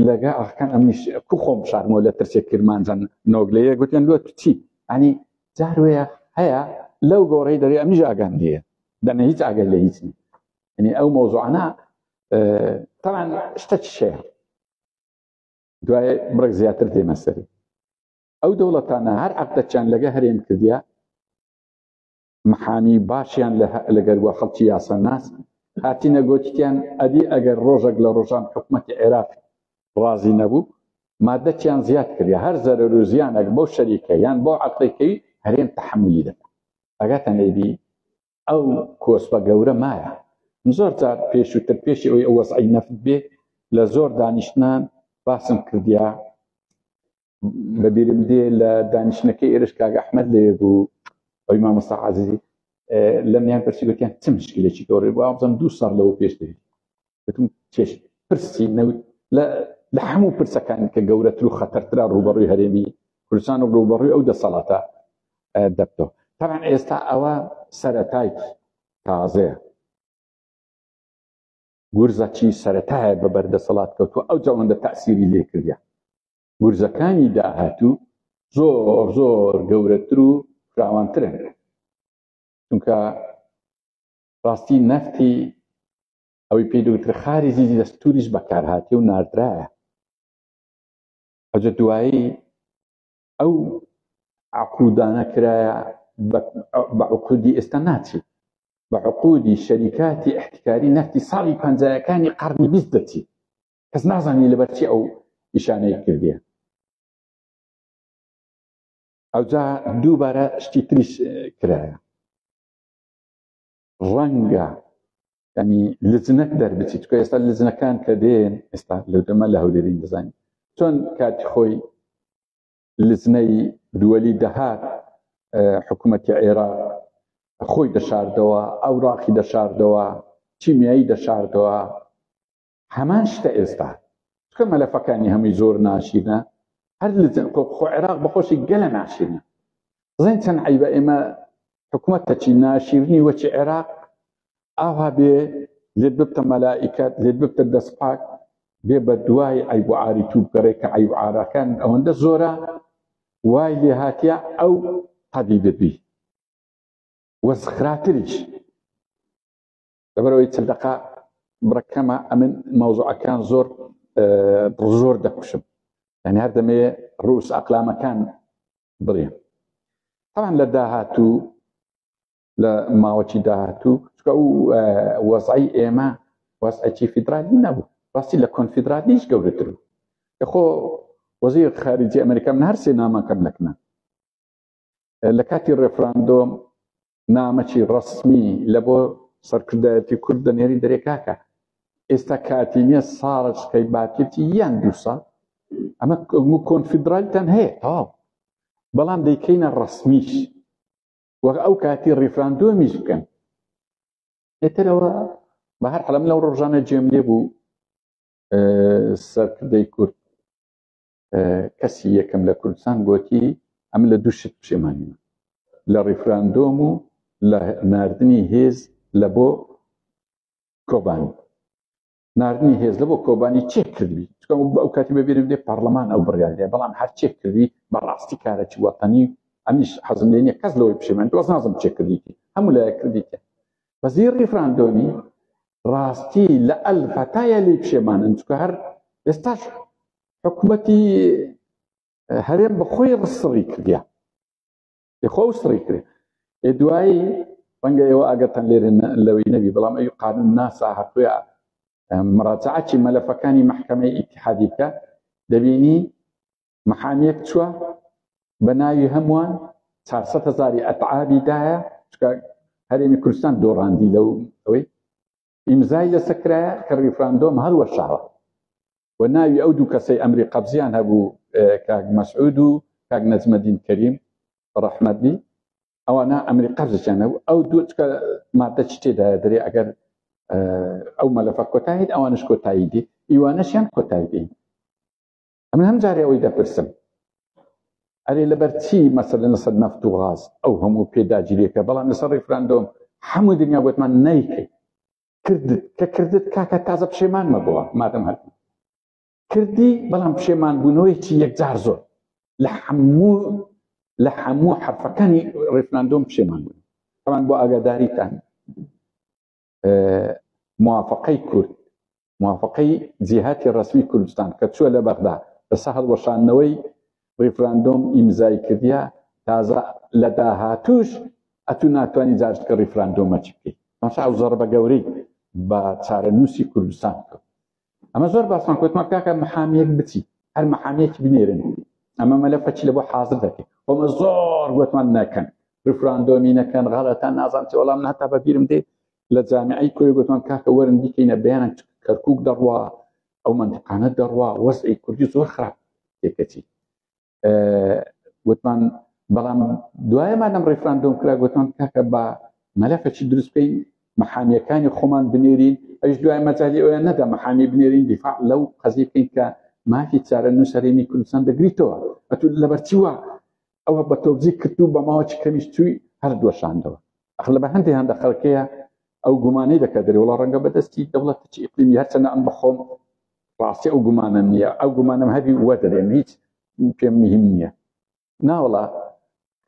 لەگە ئاخکان ئەمنیش کو خۆم شارمەوە لە ترسێک کرمانجان نۆگلەیە گوتیان لۆ تو چی ئەنی جاروەیە هەیە لەو گۆڕی دەری ئەمیش ئاگام لێە دەنە هیچ ئاگەر لە هیچ ینی ئەو مۆزوعانە تەمان شتە چشەیە دوای بڕێک زیاتر دێمە سەری ئەو دەوڵەتانە هەر عقدەچیان لەگە هەرێم کردیا محامی باشیان لە لەگەر وە خەڵکی یاساناس هاتینە گۆتیان ئەدی ئەگەر ڕۆژێک لە ڕۆژان حکوومەتی عێراق ڕازی نەبوو مادەکیان زیاد کردی هەر زەرەر و زیانەک بۆ شەریکە یان بۆ عقلەکەی هەرێم تحملی دەکە ئەگەتە نەیبی ئەو کۆسپە گەورە مایە زۆر جار پێشووتر پێشی ئەوی ئەو وەزعی نەفت بێ لە زۆر دانیشتنان باسم کردیا لەبیرم دێ لە دانیشتنەکەی ئێرش کاک ئەحمد لەوێ بوو ئەوی مامۆستا عزیزی لە میان پرسی گوتیان چ مشکلێکی گەورە بۆ ئابزم دوو ساڵ لەوە پێش دەوی گوتم چێش پرسی نەوت لە هەموو پرسەکان کە گەورەتر و خەتەرترا ڕوبەڕووی هەرێمی کوردستان و ڕوبەڕووی ئەو دەسەڵاتە دەبتەوە تاان ئێستا ئەوە سەرەتای تازەیە گورزەچی سەرەتایە بە بەر دەسەڵات کەوتوە ئەو جەوەندە تاسیری لێ کردە گورزەکانی داهاتوو زۆر زۆر گەورەتر و فراوانترن چونکە ڕاستی نەفتی ئەوەی پێی دوتر خاری زیزی دەستوریش بەکارهاتی و ناردرایە ئەجە دوایی ئەو عقودانە کرایە بە عقودی ئێستا ناچێت بە عقودی شەریکاتی احتکاری نەفتی ساڵی پەنجایەکانی قەرنی بیست دەچێت کەس نازانی لەبەرچی ئەو پیشانەی کردیە ئەوجا دووبارە شتی تریش کرایە ڕەنگە ینی لجنەک دەربچیت کە ئێستا لجنەکان کە دێن ئێستا لەو دەمە لە هەولێرین دەزانین چۆن کاتی خۆی لجنەی دووەلی دەهات حکوومەتی عێراق خۆی دەشاردەوە ئەو ڕاقی دەشاردەوە چیمیایی دەشاردەوە هەمان شتە ئێستا چکە مەلەفەکانی هەمووی زۆر ناشیرنە هەر خۆ عێراق بەخۆشی گەلە ناشیرنە بزانین چەند عیبە ئێمە حکوومەت تەچی ناشیرنی وەچی عێراق ئاها بێ لێت ببتە مەلائیکات لێت ببتە دەستپاک بێ بە دوای ئەیب عاری تو بگەڕێ کە ئەیب عراکان ئەوەندە زۆرە وای لێ هااتە ئەو قەبی دەبی وەزخراتریش لەبەرەوەی چل دقا بڕەکەمە ئەمن مەوزوعەکان زۆر زۆر دەکوشم یعنی هەر دەمێ ڕوس ئەقلامەکان بڵێ تاوان لە داهاتوو لە ماوەکی داهاتوو چکە و وەزعی ئێمە وەزعەکی فیدرالی نەبوو ڕاستی لە کۆنفیدرالیش گەورەتر بوو خۆ وەزی خارجی ئەمریکا من هەرسێ نامەکەم لەکنە لە کاتی ڕێفراندۆم نامەکی ڕسمی لە بۆ سەرکردایەتی کورد دەنێری دەرێکاکە ئێستا کاتی نیە ساڕچکەی باکێتی یان دووسا ئەمە کۆنفیدرالتان هەیە تاو بەڵام دەیکەینە ڕسمیش وەک ئەو کاتی ڕیفراندۆمیش بکەن ئێترەوە بە هەر حەلم لەو ڕۆژانە جێم لێ بوو سەرکردەی کورد کەسی یەکەم لە کوردستان گوتی ئەم لە دوو شت پشێمانیمە لە ڕیفراندۆم و لە نردنی هێز لە بۆ کۆبانی نردنی هێز لە بۆ کۆبانی چێ کردوی چکم بە ئەو کاتی بەبیرم دێ پەرلەمان ئەو بڕیاێ بەڵام هەر چێ کردوی بەڕاستی کارەی وەتەنی ئەمیش حەزم لێنە کەس لەوەی پشێمان دۆز نازم چێ کردیتی هەموو لایە کردیتە بەزی ڕیفراندۆمی ڕاستی لە ئەلفەتایە لی پشێمانن چکە هەر ئێستاش حکومەتی هەرێم بە خۆی ڕسڕی کردیا خۆ سڕی کرێ ئێ دوایی ڕەنگە ئێوە ئەگەتەن لێرە لەوەی نەبی بەڵام ئەوی قانون ناسا هەتوێ مراجعاتی مەلەفەکانی محکمەی ئیتحادی بکە دەبینی محامیەک چووە بە ناوی هەمووان 400 هزاری ئەتعابی دایە چکە هەرێمی کوردستان دۆڕاندی لەو ئەوەی ئیمزای لەسە کرایە کە ڕیفراندۆم هەڵوەشاوە و ناوی ئەو دوو کەسەی ئەمری قەبزیان هەبوو کاک مەسعود و کاک نەجمەدین کەریم ڕەحمەت بی ئەوانە ئەمری قەبزیان هەبوو ئەو دوو مادە چ تێدا دەرێ ئەگەر ئەو مەلەفە کۆتاییت ئەوانش کۆتایی دی ئیوانەشیان کۆتایی دێن ئەمن هەم جارێ ئەوەی دەپرسم ئەرێ لەبەر چی مەسەلە لەسەر نەفت و غاز ئەو هەموو پێداگیریەکە بەڵام لەسەر ڕیفراندۆم هەموو دنیا گوتمان نەیکەی کردت کە کردت کاکە تازە پشێمانمە بووە مادەم هەر کردی بەڵام پشێمان بوونەوەیکی یەکجار زۆر لە هەموو لە هەموو حرفەکانی ڕیفراندۆم پشێمان بوون ئەمان بۆ ئاگاداریتان موافقەی کورد موافقەی جیهاتی ڕسمی کوردستان کە چووە لە بەغدا لەسە هەڵوەشاندنەوەی ڕیفراندۆم ئیمزای کردیا تازە لە داهاتوش ئەتو ناتوانانی جارشتکە ڕیفراندۆمەچ بکەیت مەسا و زەڕ بە گەورەی بە چارەنووسی کوردستان کرد ئەمە زۆر باسمان کوتمان کاکە محامیەک بچی هەر محامیەک بنێرن ئەمە مەلەفەچ لە بۆ حاضر دەکەین ئەمە زۆر گوتمان نەکەن ریفراندۆمی نەکەن غەڵەتان نازان چی وەڵام هەتا بەبیرم دێ لە جامعی کۆی گوتمان کاکە وەرن دیکەینە بەیانە کەرکک دەڕوا ئەو منتقانە دەڕوا وەزعی کوردی زۆر خراپ تێکەچی گوتمان بەڵام دوایەمان لەم ڕێفراندۆم کرا گوتمان کاکە بە مەلەفەچی دروست بکەین محامیەکانی خۆمان بنێرین ئەش دوای مەجای ئەویان نەدا محامی بنێرین دیفاع لەو قەزی بکەین کە مافی چارە نووسەرێنی کوردستان دەگریتەوە ئەتو لەبەرچیوە ئەوە بە تۆبزی کرد و بە ماوەچ کەمیش توی هەر دۆشاندەوە ئەخ لە بەهەندی هەندە خەڵکەیە ئەو گومانەی دەکە دەری وڵا ڕەنگە بەدەستی دەوڵەت چی ئیقلیمی هەرچەنە ئەم بەخۆم ڕاستی ئەو گومانە نییە ئەو گومانم هەبی وە دەرێن هیچ پێم مهم نییە ناوەڵا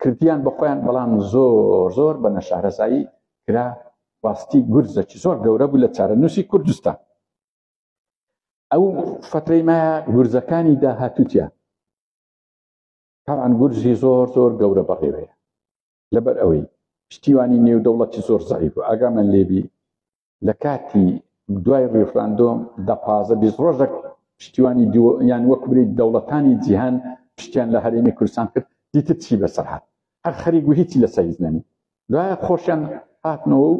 کردیان بە خۆیان بەڵام زۆر زۆر بە نەشارەزایی کرا ڕاستی گورزەکی زۆر گەورە بوو لە چارەنووسی کوردستان ئەو فترەی مایە گورزەکانی داهاتوتیان تاوان گورزی زۆر زۆر گەورە بەڕێوەیە لەبەر ئەوەی پشتیوانی نێودەوڵەتی زۆر زعیف و ئاگامان لێبی لە کاتی دوای ڕیفراندۆم دە پازە بیست ڕۆژێک پشتیوانی یان وەک بری دەوڵەتانی جیهان پشتیان لە هەرێمی کوردستان کرد دیتر چی بەسەر هاات هەر خەریک و هیچی لەسەر هیچ نەنی دوایە خۆشیان هاتنەوە و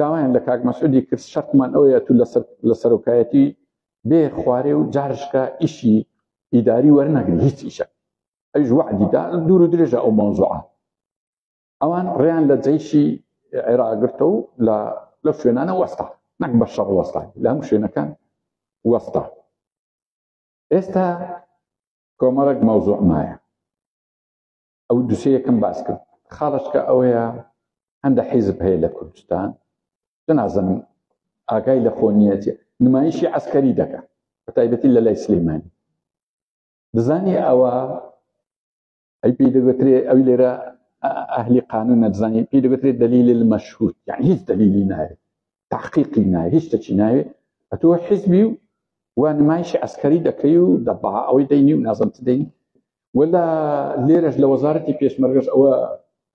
داوایان لە کاک مەسعودی کرد شەرتمان ئەوەیە تو لە سەرۆکایەتی بێ خوارێ و جارشکە ئیشی ئیداری وەرنەگری هیچ ئیشە ئەیش وعدی دا دوور و درێژە ئەو مەوزوعە ئەوان ڕێیان لە جەیشی عێراگرتە و لە لەو شوێنانە وەستا نەک بە شەڕ وەستا لە هەم شوێنەکان وەستا ئێستا کۆمەڵک مەوزوع مایە ئەو دوسێ یەکەم باس کرد خاڵشکە ئەوەیە هەندە حیزب هەیە لە کوردستان جنازم ئاگای لە خۆنیەتی نمایشی عسکەری دەکە بە تایبەتی لە لای سلیمانی دەزانی ئەوە ئەی پێی دەگوترێ ئەوی لێرە ئەهلی قانون نەبزانانی پێی دەگوترێت دلیل المەشهود یعنی هیچ دلیلی ناوێت تحقیقی ناوێ هیچ دەچی ناوێت ئەتۆ حزبی و و نمایشی ئەسکەری دەکەی و دەبا ئەوەی دەینی و نازم دەین ولا لێرەش لە وەزارەتی پێشمەرگەش ئەوە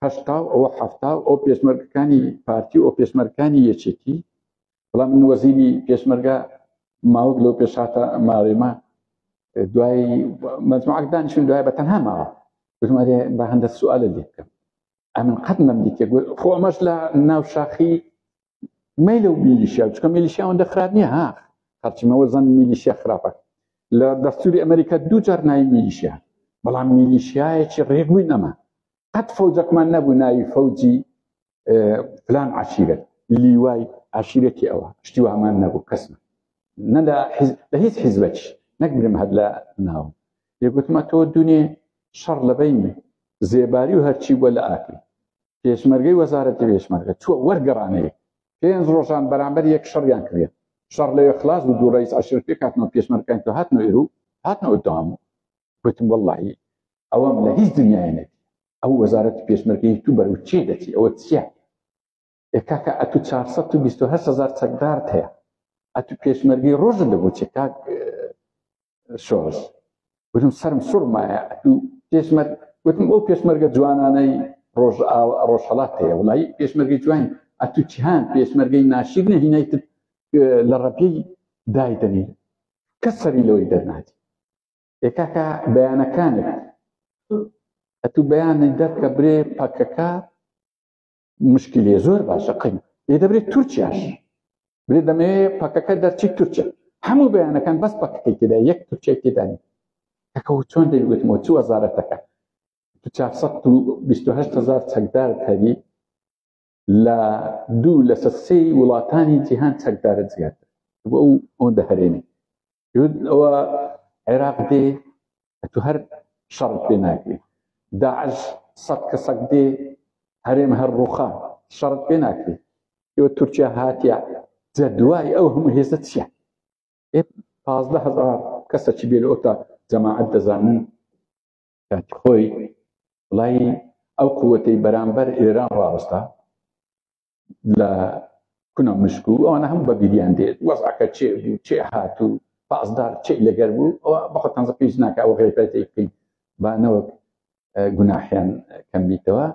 هەشتا و ئەوە حفتا و ئەو پێشمەرگەکانی پارتی و ئەو پێشمەرکانی یەکێتی بەڵام من وەزیری پێشمەرگە ماوەک لەو پێشاتە ماوێمە دوای مەجموعەک دانیشتن دوای بە تەنها ماوە بژمارێ بە هەندە سوالە لێ بکەم ئەمن قەت نەم دیتێ خۆ ئەمەش لە ناو شاخی مەیل و میلیشیا چکە میلیشیا ئەوەندە خراپ نییە ها هەرچیمەوە زەن میلیشیا خراپە لە دەستوری ئەمریکا دوو جار ناوی میلیشیا بەڵام میلیشیایەکی ڕێگوی نەما قەت فەوجەکمان نەبوو ناوی فەوجی پلان عشیرەت لیوای عشیرەتی ئەوە شتی وامان نەبوو کەسم نە لە لە هیچ حیزبەت نەگرم هەر لە ناو یەگوتمە تۆ دونێ شەڕ لەبین زێباری و هەرچی بووە لە ئاکری پێشمەرگەی وەزارەتی پێشمەرگە چوە وەرگەڕانەیە پێنج ڕۆژان بەرامبەر یەک شەڕیان کرێت شەڕ لەوێ خلاص و دوو ڕیز عشر پێ کاتنەوە پێشمەرکان تۆ هاتنەوە ئێرو هاتنەوە دام و گوتم واللهی ئەوەم لە هیچ دنیاە ئەو وەزارەت پێشمەرگەی تو بەرەو چێ دەچی ئەوە چیە کاکە ئەتو 428 هزار چەکدارت هەیە ئەتو پێشمەرگەی ڕۆژن لە بۆ چێ کاک شۆڕش وتم سرم سوڕمایە ئەتو پێشمەر وتم ئەو پێشمەرگە جوانانەی ڕۆژ ڕۆژهڵات هەیە وڵی پێشمەرگەی جوان ئەتو چیان پێشمەرگەی ناشیر نەهینایت لە ڕەپی دایدەنی کە سەری لەوەی دەرناتی ئێکاکە بەیانەکانت ئەتوو بەیانە دەرکە برێ پەکەکە مشکی لێ زۆر باشە قین لێ دەبرێت تورکیاش برێ دەمەوێ پەکەکە دەرچی تورکیا هەموو بەیانەکان بەس پەکەکەی تێدا یەک تورکیای تێدانی ئەکە چۆن دەیگوتمەوە چوو وەزارەتەکە هزار چەکدار هەری لە دوو لەسە سێ وڵاتانی جیهان چەکدارە زیاتر بۆ ئەو ئەوەندە هەرێمی ئەوە عێراق دێ تو هەر شەڕ پێ ناکرێت داعش سەد کەسەک دێ هەرێم هەر ڕوخان شەڕ پێ ناکرێت ئێوە تورکیا هاتیە جە دوای ئەو هەموو هێزە چیە پازدە هزار کەسە چی بێ لە ئۆتا جەماعەت دەزانن کاتی خۆی بڵای ئەو قوتەی بەرامبەر ئێران ڕاوەستا لە کونە مشک و ئەوانە هەم بە بیریان دێت وەزعەکە چێ بوو چێ هات و پازدار چی لەگەر بوو ئەوە بەخۆ تەنزە پێش ناکە ئەو غیرەتی بکەین بانەوەک گوناحیان کەم بیتەوە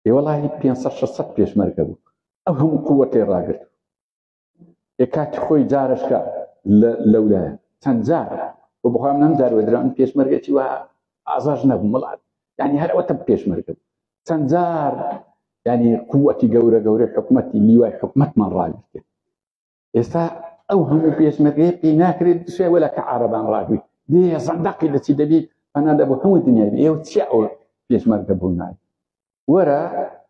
ئێوەڵی 500 600 پێشمەرگە بوو ئەو هەموو قوتەی ڕاگرت ئێ کاتی خۆی جارشکە لەولایە چەند جار و بخوام نەم جار وەدران پێشمەرگەی وە ئازاش نەبوو مڵات ینی هەرەوەتە پێشمەرگە چەند جار ینی قوەتی گەورە گەورە حکوومەتی لیوای حکوومەتمان ڕاگرێت ئێستا ئەو هەموو پێشمەرگەیە پێ ناکرێت دشێ وەلا کە عربان ڕاگری دێ زەندەقی دەچی دەبیت پەنا دەبوو هەموو دنیای ئێوە چی ئەو پێشمەرگە بوو نایە وەرە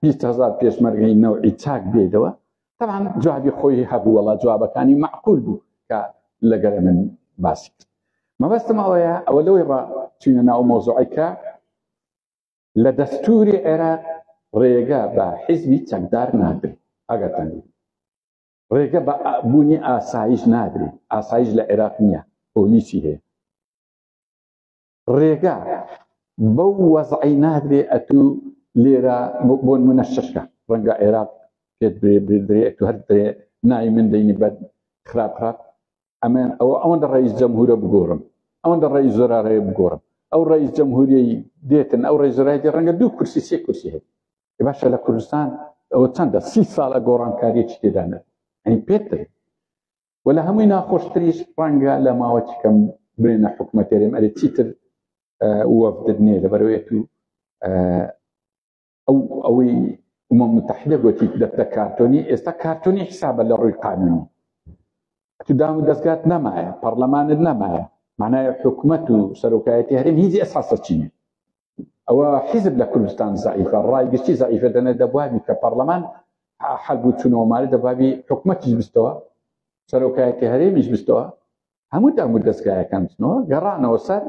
بیست هەزار پێشمەرگەی نەوعی چاک بێدەوە تەعاان جوابی خۆی هەبوو وەڵا جوابەکانی معقول بوو کە لەگەر من باسی کرد مەبەستم ئەوەیە ئەوە لەوەی ڕا چینە ناو مۆزۆعیکە لە دەستوری عێراق ڕێگە بە حیزبی چەکدار نادرێت ئەگەر تەنگی ڕێگە بە بوونی ئاسایش نادرێت ئاسایش لە عێراق نییە پۆلیسی هەیە ڕێگا بەو وەزعی نادرێ ئەتو لێرە بۆن منە شەشکە ڕەنگە عێراق پێت برێ بردرێ ئەتو هەر درێ نای من دەینی بەر خراپ خراپ ئەمە ئەوە ئەوەندە ڕئیس جەمهورە بگۆڕم ئەوەندە ڕئیس زۆرارەیە بگۆڕم ئەو ڕئیس جەمهوریی دێتن ئەو ڕێزۆرای دێ ڕەنگە دوو کورسی سێ کورسی هەیە باشە لە کوردستان ئەوە چەندە سی ساڵە گۆڕانکاریی تێدانە ئەین پێتر و لە هەمووی ناخۆشتریش ڕەنگە لە ماوە چکەم بێنە حکوومەتێرێم ئەرێ چیتر وەفدت نیە لەبەرەوەیەت و ئەو ئەوەی ئومە متحدە گوتی دەتە کارتۆنی ئێستا کارتۆنی حسابە لە ڕووی قانونی تو دام و دەستگات نەمایە پەرلەمانت نەمایە معناە حکومت و سەرۆکایەتی هەرم هیچ ئەساسە چینە ئەوە حیزب لە کوردستان زعیفە ڕای گشتی زعیفە دەنە دەبوابی کە پەرلەمان حەل بوو چونەوەماری دەبابی حکوومەتیش بستەوە سەرۆکایەتی هەرێمیش بستەوە هەموو دام و دەستگایەکان بچنەوە گەڕانەوە سەر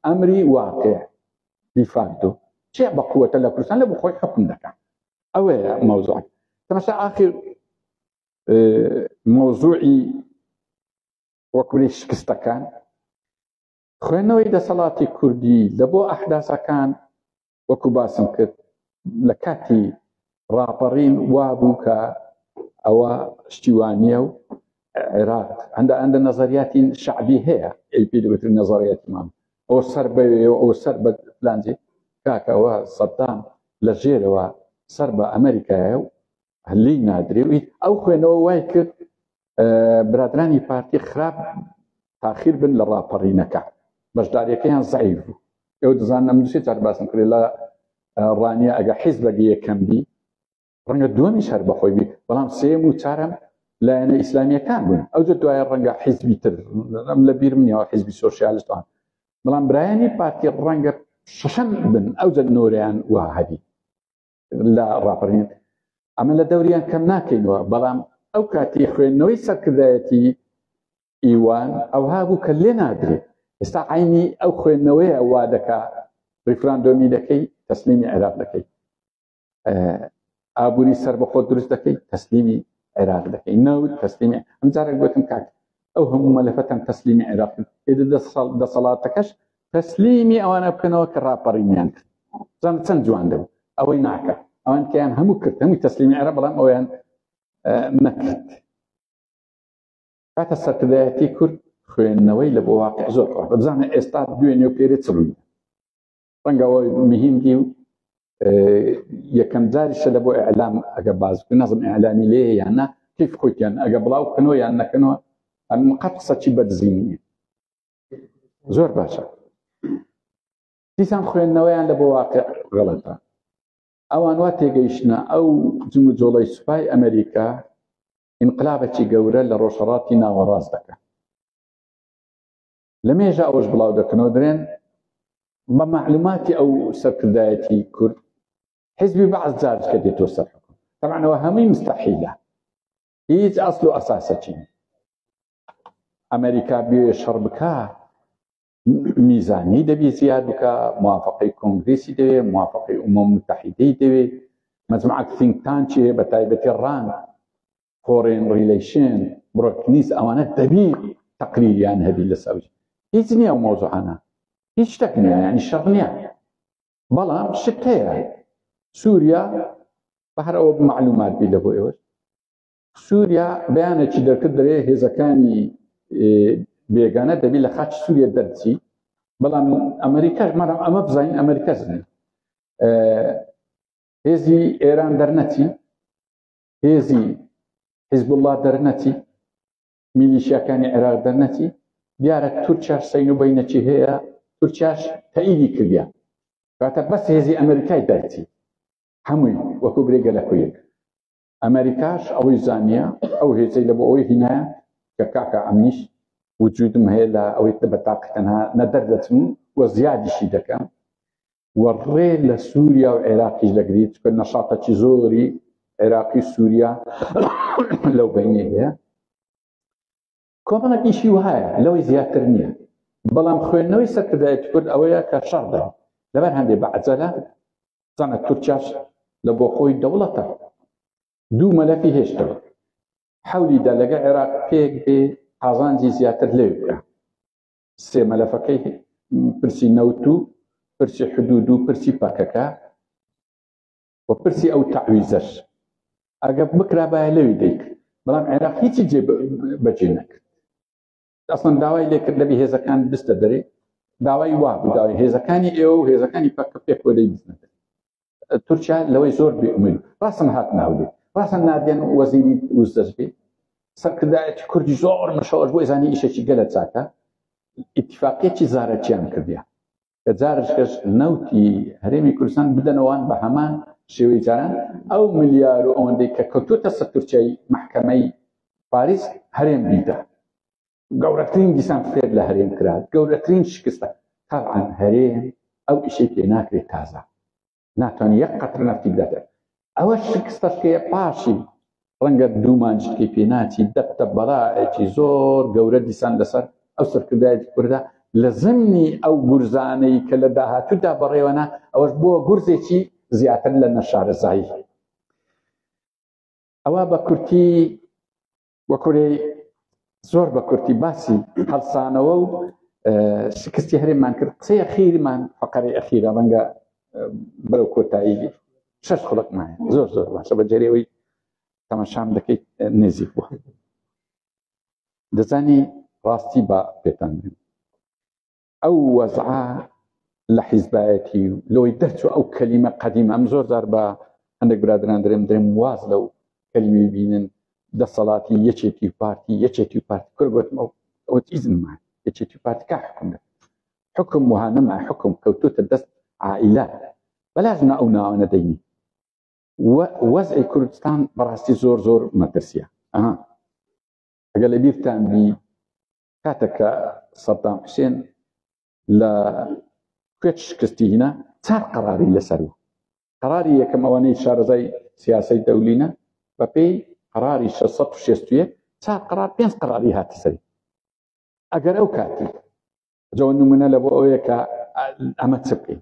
ئەمری واقع دیفاکتۆ چێ بە قووەتە لە کوردستان لە بخۆی حکم دەکات ئەوەیە مەوزوع تەمەشا ئاخر مەوزوعی وەکولی شکستەکان خوێندنەوەی دەسەڵاتی کوردی لە بۆ ئەحداسەکان وەکو باسم کرد لە کاتی ڕاپەڕین وابوو کە ئەوە شتیوانیە و عێراق هەندە ئەندە نەزەریاتی شعبی هەیە ئەی پێ دەوتر نەزەڕیەتمان ئەو سەر بەوێ و ئەو سەر بە پلانجی کاکەوە سەدام لە ژێرەوە سەر بە ئەمریکایە و هەلی نادرێوی ئەو خوێنەوە وای کرد برادرانی پارتی خراپ تاخیر بن لە ڕاپەڕینەکە بەشدارەکەیان زعیف بوو ئەو دەزان ئەمدوسێ چار باسم کرێ لە ڕانیە ئەگە حیز بەگە یەکەم بی ڕەنگە دووەمی شەر بەخۆی بی بەڵام سێم و چارم لایەنە ئیسلامیەکان بوون ئەو دوایە ڕەنگە حیزبی تر ئەم لە بیر منیەوە حیزبی سۆسیالستان بەڵام برایانی پارتی ڕەنگە شەشەم بن ئەو جە نۆریان وهبی لە ڕاپەرین ئەمە لە دەوریان کەم ناکەینەوە بەڵام ئەو کاتی خوێندنەوەی سەرکردایەتی ئیوان ئەوها بوو کە لێ نادرێت ئێستا عینی ئەو خوێندنەوەیە وا دەکا ریفراندۆمی دەکەی تەسلیمی عێراق دەکەی ئابووری سەر بەخۆ دروست دەکەی تەسلیمی عێراق دەکەی نەوت تەسلیمی ئەمجارێک گوتم کاک ئەو هەموو مەلەفەتان تەسلیمی عێراق کرد ئێدە دەسەڵاتەکەش تەسلیمی ئەوانە بکەنەوە کە ڕاپەڕینیان کرد زان چەند جوان دەبوو ئەوەی ناکە ئەوان کەیان هەموو کرد هەمووی تەسلیمی عێراق بەڵام ئەویان نەکرد کاتە سەرکردایەتی کورد خوێندنەوەی لە بۆ واقع زۆر بزانە ئێستا دوێنێ و پێرێ چڕوی ڕەنگە ئەوە مهم دی و یەکەم جاریشە لە بۆ ئەعلام ئەگە باز بکە نەزم ئەعلامی لێ یانە کیف خۆیان ئەگە بڵاو بکەنەوە یان نەکەنەوە ئەم قەت قسەچی بەدزینیە زۆر باشە دیسان خوێندنەوەیان لە بۆ واقع غەڵەتە ئەوان وا تێگەیشتە ئەو جم و جۆڵی سوپای ئەمریکا ئینقلابەکی گەورە لە ڕۆژهڵاتی ناوەڕاست دەکە لە مێژە ئەوەش بڵاو دەکەنەوە درێن بە معلوماتی ئەو سەرکردایەتی کورد حزبی بەعس جارجکە دێتۆ سەر حکوم تەمانەوە هەمووی مستەحیلە هیچ ئەسل و ئەساسەچین ئەمریکا بێ شەڕ بکە میزانی دەبی زیاد بکە موافقی کۆنگریسی دەوێ موافقی ئومە متحیدەی دەوێ مەجمعات سینگتان چێ بە تایبەتی ڕان فۆرێن ڕیلیشن بڕۆکنیس ئەوانە دەبی تەقلیلیان هەبی لەسەر هیچ نییە و مۆزوعانە هیچ شتێک نییە یعنی شەڕ نییە بەڵام شت هەیە سووریا بەهر ئەوە معلومات بی لە بۆ ئێوە سووریا بەیانێکی دەرکرد دەێ هێزەکانی بێگانە دەبی لە خاچ سووریە دەرچی بەڵام ئەمریکاش مەرە ئەمە بزانین ئەمریکا زنێ هێزی ئێران دەرنەچی هێزی حیزبوڵڵا دەرنەچی میلیشیاکانی عێراق دەرنەچی دیارە تورکیا سین و بینەکی هەیە تورکیاش تەعیدی کردیان کاتە بەس هێزی ئەمریکای دەرچی هەمووی وەکو برێگە لە کویەک ئەمریکاش ئەوەی زانیە ئەو هێزەی لە بۆ ئەوەی هینایە کە کاکە ئەمنیش وجودم هەیە لە ئەوەی بە تاقی تەنها نەدەر دەچم و زیادیشی دەکەم و ڕێ لە سووریا و عێراقیش دەگریت کە نەشاتەکی زۆری عێراقی سووریا لەو بینێ هەیە کۆمەڵە ئیشی وهایە لەوەی زیاتر نییە بەڵام خوێندنەوەی سەرکردایەت کرد ئەوەیە کە شەڕدا لەبەر هەندێک بە عجەلە زانە تورکیاش لە بۆ خۆی دەوڵەتە دوو مەلەفی هێشتەوە حەولیدا لەگە عێراق پێک بێ قازانجی زیاتر لێ بکە سێ مەلەفەکەی پرسی نەوت و پرسی حدود و پرسی پەکەکە و پرسی ئەو تعویزەش ئەگە بکرابایە لەوی دەیک بەڵام عێراق هیچی جێ بەجێ نەکرد ئەسڵەن داوای لێکرد لەبی هێزەکان بستە دەرێ داوای وا بوو داوای هێزەکانی ئێوە و هێزەکانی پەکە پێکۆدەی بزنەکە تورکیا لەوەی زۆر بێئومێد ڕاستن هات ناودێ ڕاستن نادێن وەزیری وزدەست بێ سەرکردایەتی کوردی زۆر مەشەوەش بۆی زانانی ئیشێکی گەلە چاکە ئیتفاقیەتی زارەکیان کردیان کە جارشکەش نەوتی هەرێمی کوردستان بدەنەوەوان بە هەمان شێوەی جاران ئەو ملیار و ئەوەندەی کە کەوتوتە سەر تورکیای محکەمەی پاریس هەرێم بیدا گەورەترین دیسان فێر لە هەرێم کرا گەورەترین شکستە تاعاان هەرێم ئەو ئیشی پێ ناکرێت تازە ناتوان یەک قەتر نفتی بداتێت ئەوە شکستەکەیە پاشی ڕەنگە دوومانجکی پێناچی دەبتە بەڵایەکی زۆر گەورە دیسان لەسەر ئەو سەرکردایەتی کوردە لە زمنی ئەو گورزانەی کە لە داهاتوودا بەڕێوەنا ئەوەش بووە گورزێکی زیاتر لە نەشارەزایی ئەوە بە کورتی وە کورێ زۆر بە کورتی باسی هەڵسانەوە و شکستی هەرێمان کرد قسەی خیرمان فقەری ئەخیرە ڕەنگە بەرەو کۆتایی شش خڵکمان زۆر زۆر باشە بە جەرەوەی تەمەشام دەکەیت نێزیک بووە دەزانی ڕاستی بە پێتان ئەو وەزعە لە حیزبایەتی و لەوەی دەرچوە ئەو کەلیمە قەدیم ئەم زۆر زار بە هەندێک برادران درێم درێم واز لەو کەلیمی بینن دەسەڵاتی یەکێتی و پارتی یەکێتی و پارتی کرد گوتمە ئەو ئیزنمان یەکێتی و پارتیکە حکم دەکەن حکم وهانەما حکم کەوتوتە دەست عائلە بەلازمە ئەو ناوانە دەینی وەزعی کوردستان بەڕاستی زۆر زۆر مەترسیە ئەگە لە بیرتان بی کاتێک کە سەدام حوسێن لە کوێت شکستی هینا چار قەراری لەسەر و قەراری یەکەم ئەوانەی شارەزای سیاسی دەولینە بە پێی قەراری 1661 چار قەرار پێنج قەراری هاتە سەری ئەگەر ئەو کاتی جەوە نمونە لە بۆ ئەوەیە کە ئەمە چ بکەین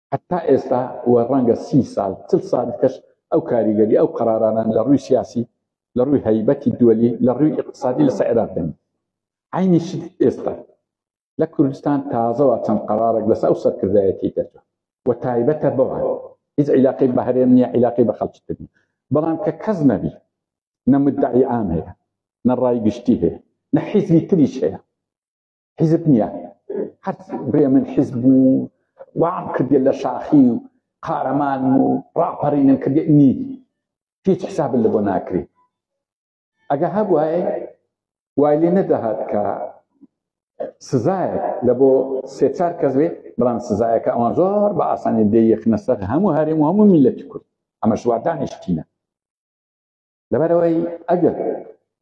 هەتا ئێستا و ڕەنگە سی سال چل سال دیکەش ئەو کاریگەری ئەو قەرارانە لە ڕووی سیاسی لە ڕووی هەیبەتی دوەلی لە ڕووی ئیقتسادی لەسە عێراق دەنی عینی شت ئێستا لە کوردستان تازەوە چەند قەرارێک لەسە ئەو سەرکردایەتی دەرجە و تایبەتە بەوان هیچ عیلاقی بە هەرێم نییە عیلاقی بە خەڵکی تر نیە بەڵام کە کەس نەبی نە مدعی عام هەیە نە ڕای گشتی هەیە نە حیزبی تریش هەیە حیزب نییە هەر برێ من حیزب و وام کردێ لە شاخی و قارەمان و ڕاپەڕینم کردێ نی هیچ حساب لە بۆ ناکری ئەگە هەبواە وای لێ نەدەهات کە سزایە لە بۆ سێ چار کەس بێ بەڵام سزایەکە ئەوان زۆر بە ئاسانی دەیەخنە سەر هەموو هەرێم و هەموو میلەتی کورد ئەمە شوادانیشتینە لەبەرئەوەی ئەگەر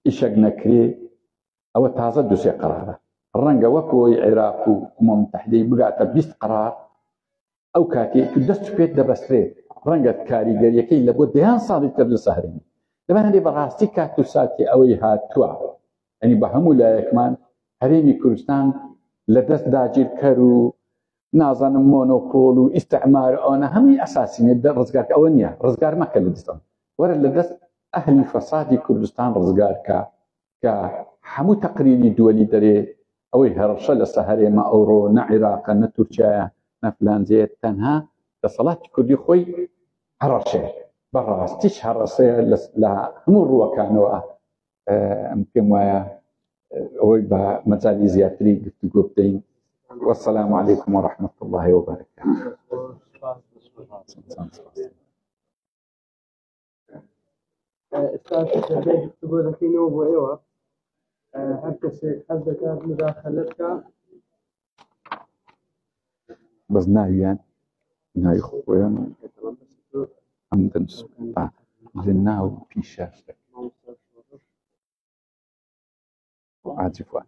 ئیشەک نەکرێ ئەوە تازە دوسێ قرارە ڕەنگە وەکۆی عێراق و مۆمتەحدەی بگاتە بیست قرار ئەو کاتێک دەست پێت دەبەسترێت ڕەنگە کاریگەریەکەی لە بۆ دەیان ساڵی تر لە سەهرین لەبەر هەندێ بەڕاستی کات و ساتی ئەوەی هاتووە ئەنی بە هەموو لایەکمان هەرێمی کوردستان لە دەست داگیرکەر و نازانم مۆنۆپۆل و ئیستعمار ئەوانە هەمووی ئەساسی نیە ڕزگار ئەوە نیە ڕزگار مەکە لە دەستم وەرە لە دەست ئەهلی فەسادی کوردستان ڕزگارکە کە هەموو تەقریری دووەلی دەرێ ئەوەی هەڕشە لە سەهرێمە ئەوڕۆ نە عێراقە نە تورکایە نەفلانجێ تەنها دەسەڵاتی کوردی خۆی هەڕەشێ بەڕاستیش هەڕەسەیە لە هەموو ڕووەکانەوە ئەم پێم وایە ئەوەی بە مەجای زیاتری گفتوگۆ بدەین والسلام عليكم ورحمة الله وبركاته گفتگۆ دەکەینەوە بۆ ئێوە هەر کەسێک حەز دەکات مداخلت کە بەس ناویان ناوی خۆیان ئەم دەنس لە ناو پیشە عاتفوان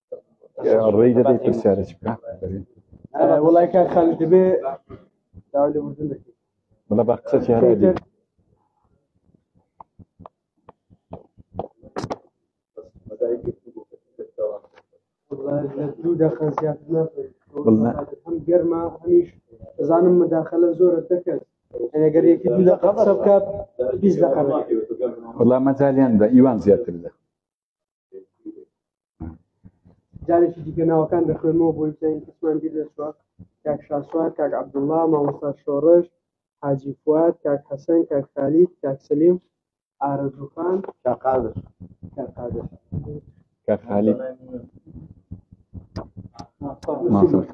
ڕێی دەدەی پرسیارە چ بکە وڵای کار خالی دەبێ داوای لە مردن دەکەی بڵە بە قسە چیانە دێت دوو دەخە زیاتر ناپێت هەم گەرما هەمیش دەزانم مداخلە زۆرە دەکەن ئەگەر یەکی دوو دەقە قسە بکات بیست دەقە وەڵا مەجالیان بە ئیوان زیاتر لە جارێکی دیکە ناوەکان دەخوێنەوە بۆی بزانین کەسمان بیر دەچوە کاک شاسوار کاک عبدوڵڵا مامۆستا شۆڕش حاجی فواد کاک حەسەن کاک خالید کاک سلیم ئارەزوخان کاک قادر کاک قادر کاک خالید مامۆستا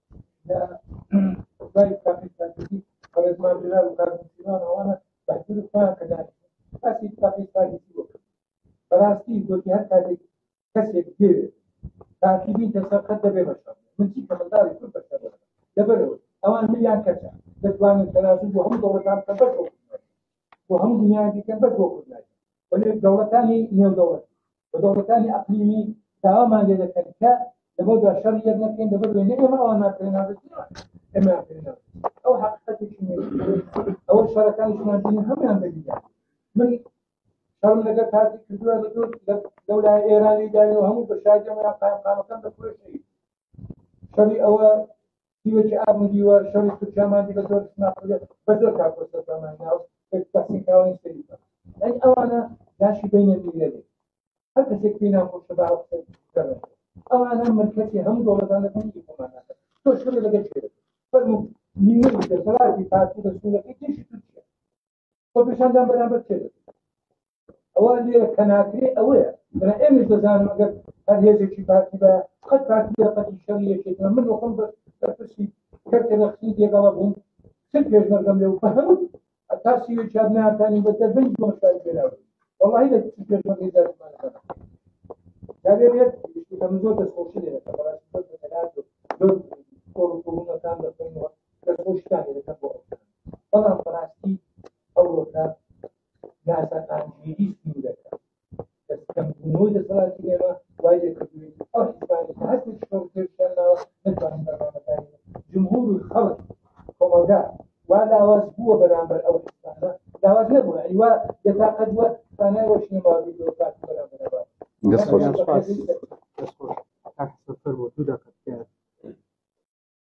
باری کافی سازی بەڕێزمان جلال و کاک موسیمان ئەوانە بەحجور خۆیان کە دانیشن ئەسی کافی سازی بۆ بەڕاستی گۆتی هەر کاتێک کەسێک دێوێت تاکیدی دەسەر قەت دەبێ بەشەر من چی کە منداری کورد بەشەر لەبەرەوە ئەوان ملیان کەسە دەتوانن تەنازل بۆ هەموو دەوڵەتان کە بەر بۆ هەموو دنیایان دیکەن بەر بۆ کوردنای وەلێ دەوڵەتانی نێو دەوڵەت و دەوڵەتانی ئەقلیمی داوامان لێ دەکەن کە لەبەر دا شەڕ یەک نەکەین لەبەر وێ نە ئێمە ئەوان ناکرێناوە ئێمە ئەو حقیقەتێکی ئەو شەڕەکانیشمان بینی هەمویان دەبینیان من شەڕم لەگەر کاتی کردووە لە دوور لەو لای ئێرانی داوی و هەموو بە شادیەوەیان قایمقامەکان دەخۆشی شەڕی ئەوە دیوێکی ئاب و دیوە شەڕی تورکیا مادی بە زۆر سناپەکە بە زۆر کاکۆسە زمانی ناو تەسین کاوانی سەری ئەی ئەوانە داشی بینە میلەێ هەر کەسێک پێی ناخۆشە بە ئەو قسە بکەن. ئەوانە ملکەتی هەموو دەوڵەتانەکان ئیمانەکە تۆ شەڕی لەگەڵ شێرە فەرموو نیوەی دەسەڵاتی پارتی بە سوولەکەی تێشی تورکیا خۆپیشاندان بەرامبەر چێ ئەوە لێرە کە ناکرێ ئەوەیە بەە ئێمەش دەزانم ئەگەر هەر هێزێکی پارتی بە قەت پارتی دەرەقەتی شەڕی یەکێتە من وەخۆم بە پرسی کەرتە نەخسی دێگەڵە بووم چل پێشمەرگەم لێ و بە هەموو تاسی چابناتانی بە دەبن بۆشار پێرا والله لە چل پێشمەرگی دەرمان دەبێت من زۆر دەستخۆشی لێ دەکەم بەڕاستی زۆر دەکات زۆر کۆڕ و کۆڕونەکان دەخۆینەوە دەستخۆشتان لێ دەکەم بۆ ئەوتان بەڵام بەڕاستی ئەوەکە ناسەقامگیری سنوورەکە دەستکەمبوونەوەی دەسەڵاتی ئێمە وای لێکردوین ئەو حزبانی کە هەستی شۆڕکردیانەوە نتوانین بەرنامەکانی جمهور و خەڵک کۆمەڵگا وا لاواز بووە بەرامبەر ئەو حزبانە لاواز نەبووە ئەی وا دەتاقەت وە توانای وە شنێ باوەڕی بۆ کات بەرامبەر دەست خۆش دەست خۆش دوو دەقەت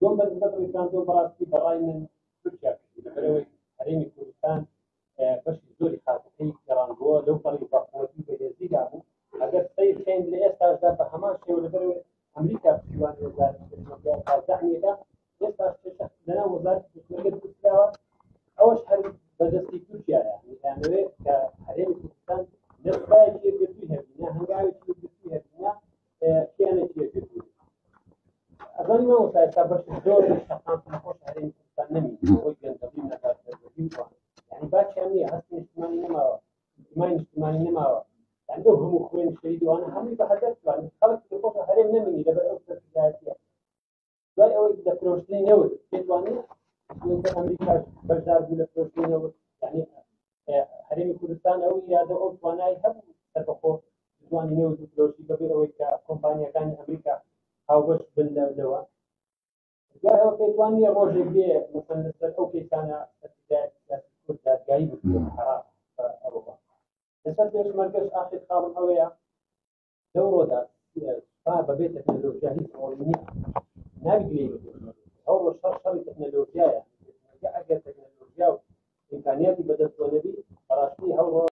دوم بەرزبەت ڕیکاندۆ بەڕاستی بەڕای من تورکیا کردی لەبەرەوەی هەرێمی کوردستان بەشی زۆری خاکەکەی گەڕاندووە لەو پەڕی بەقوەتی بەهێزیدا بوو ئەگەر سەیر خێن لە ئێستاشدا بە هەمان شێوە لەبەرەوەی ئەمریکا پشتیوان وەزارەتەکە ئێستا لەنا وەزارەت دەستوەرگە دروستکراوە ئەوەش هەر بەدەستی تورکیایە دەیانەوێت کە هەرێمی کوردستان نەخبایەکی یەکگرتووی هەبینە هەنگاوێکی یەکگرتووی هەبینە کیانێکی یەکێت بوو ئەزانی من وەسای تا بەش زۆر شەقام نەخۆش هەرێمی کوردستان نەمی بۆی گەندەڵی نەبات دەربەدی وان یعنی باچیان نییە هەستی نیشتمانی نەماوە نیشتمانی نیشتمانی نەماوە یعنی ئەو هەموو خوێن شەیدوانە هەمووی بە هەدەر توان خەڵک نەخۆش هەرێم نەمینی لەبەر ئەو سەرکردایەتیە دوای ئەوەی لە فرۆشتنی نەوت پێتوانێت کە ئەمریکا بەشدار بوو لە فرۆشتنی نەوت یعنی هەرێمی کوردستان ئەو یادە ئەو توانای هەبوو سەربەخۆ توانی نەوت و فرۆشی بەبێ ئەوەی کە کۆمپانیەکانی ئەمریکا هاوبەش بن لەوە دوای ئەوە پێتوانیە ڕۆژێک بێ مثلا لەسەر ئەو کەیسانە کورد دادگایی بکرێت حرام ئەوە لەسەر پێشمەرگەش ئاخر خاڵم ئەوەیە لەو ڕۆدا سوپا بەبێ تەکنەلۆژیا هیچ ڕۆڵی نییە ناوی گوێی ئەو ڕۆژ شەڕ شەڕی تەکنەلۆژیایە ئەگەر تەکنەلۆژیا و ئیمکانیاتی بەدەستەوە نەبی بەڕاستی ئەو ڕۆژ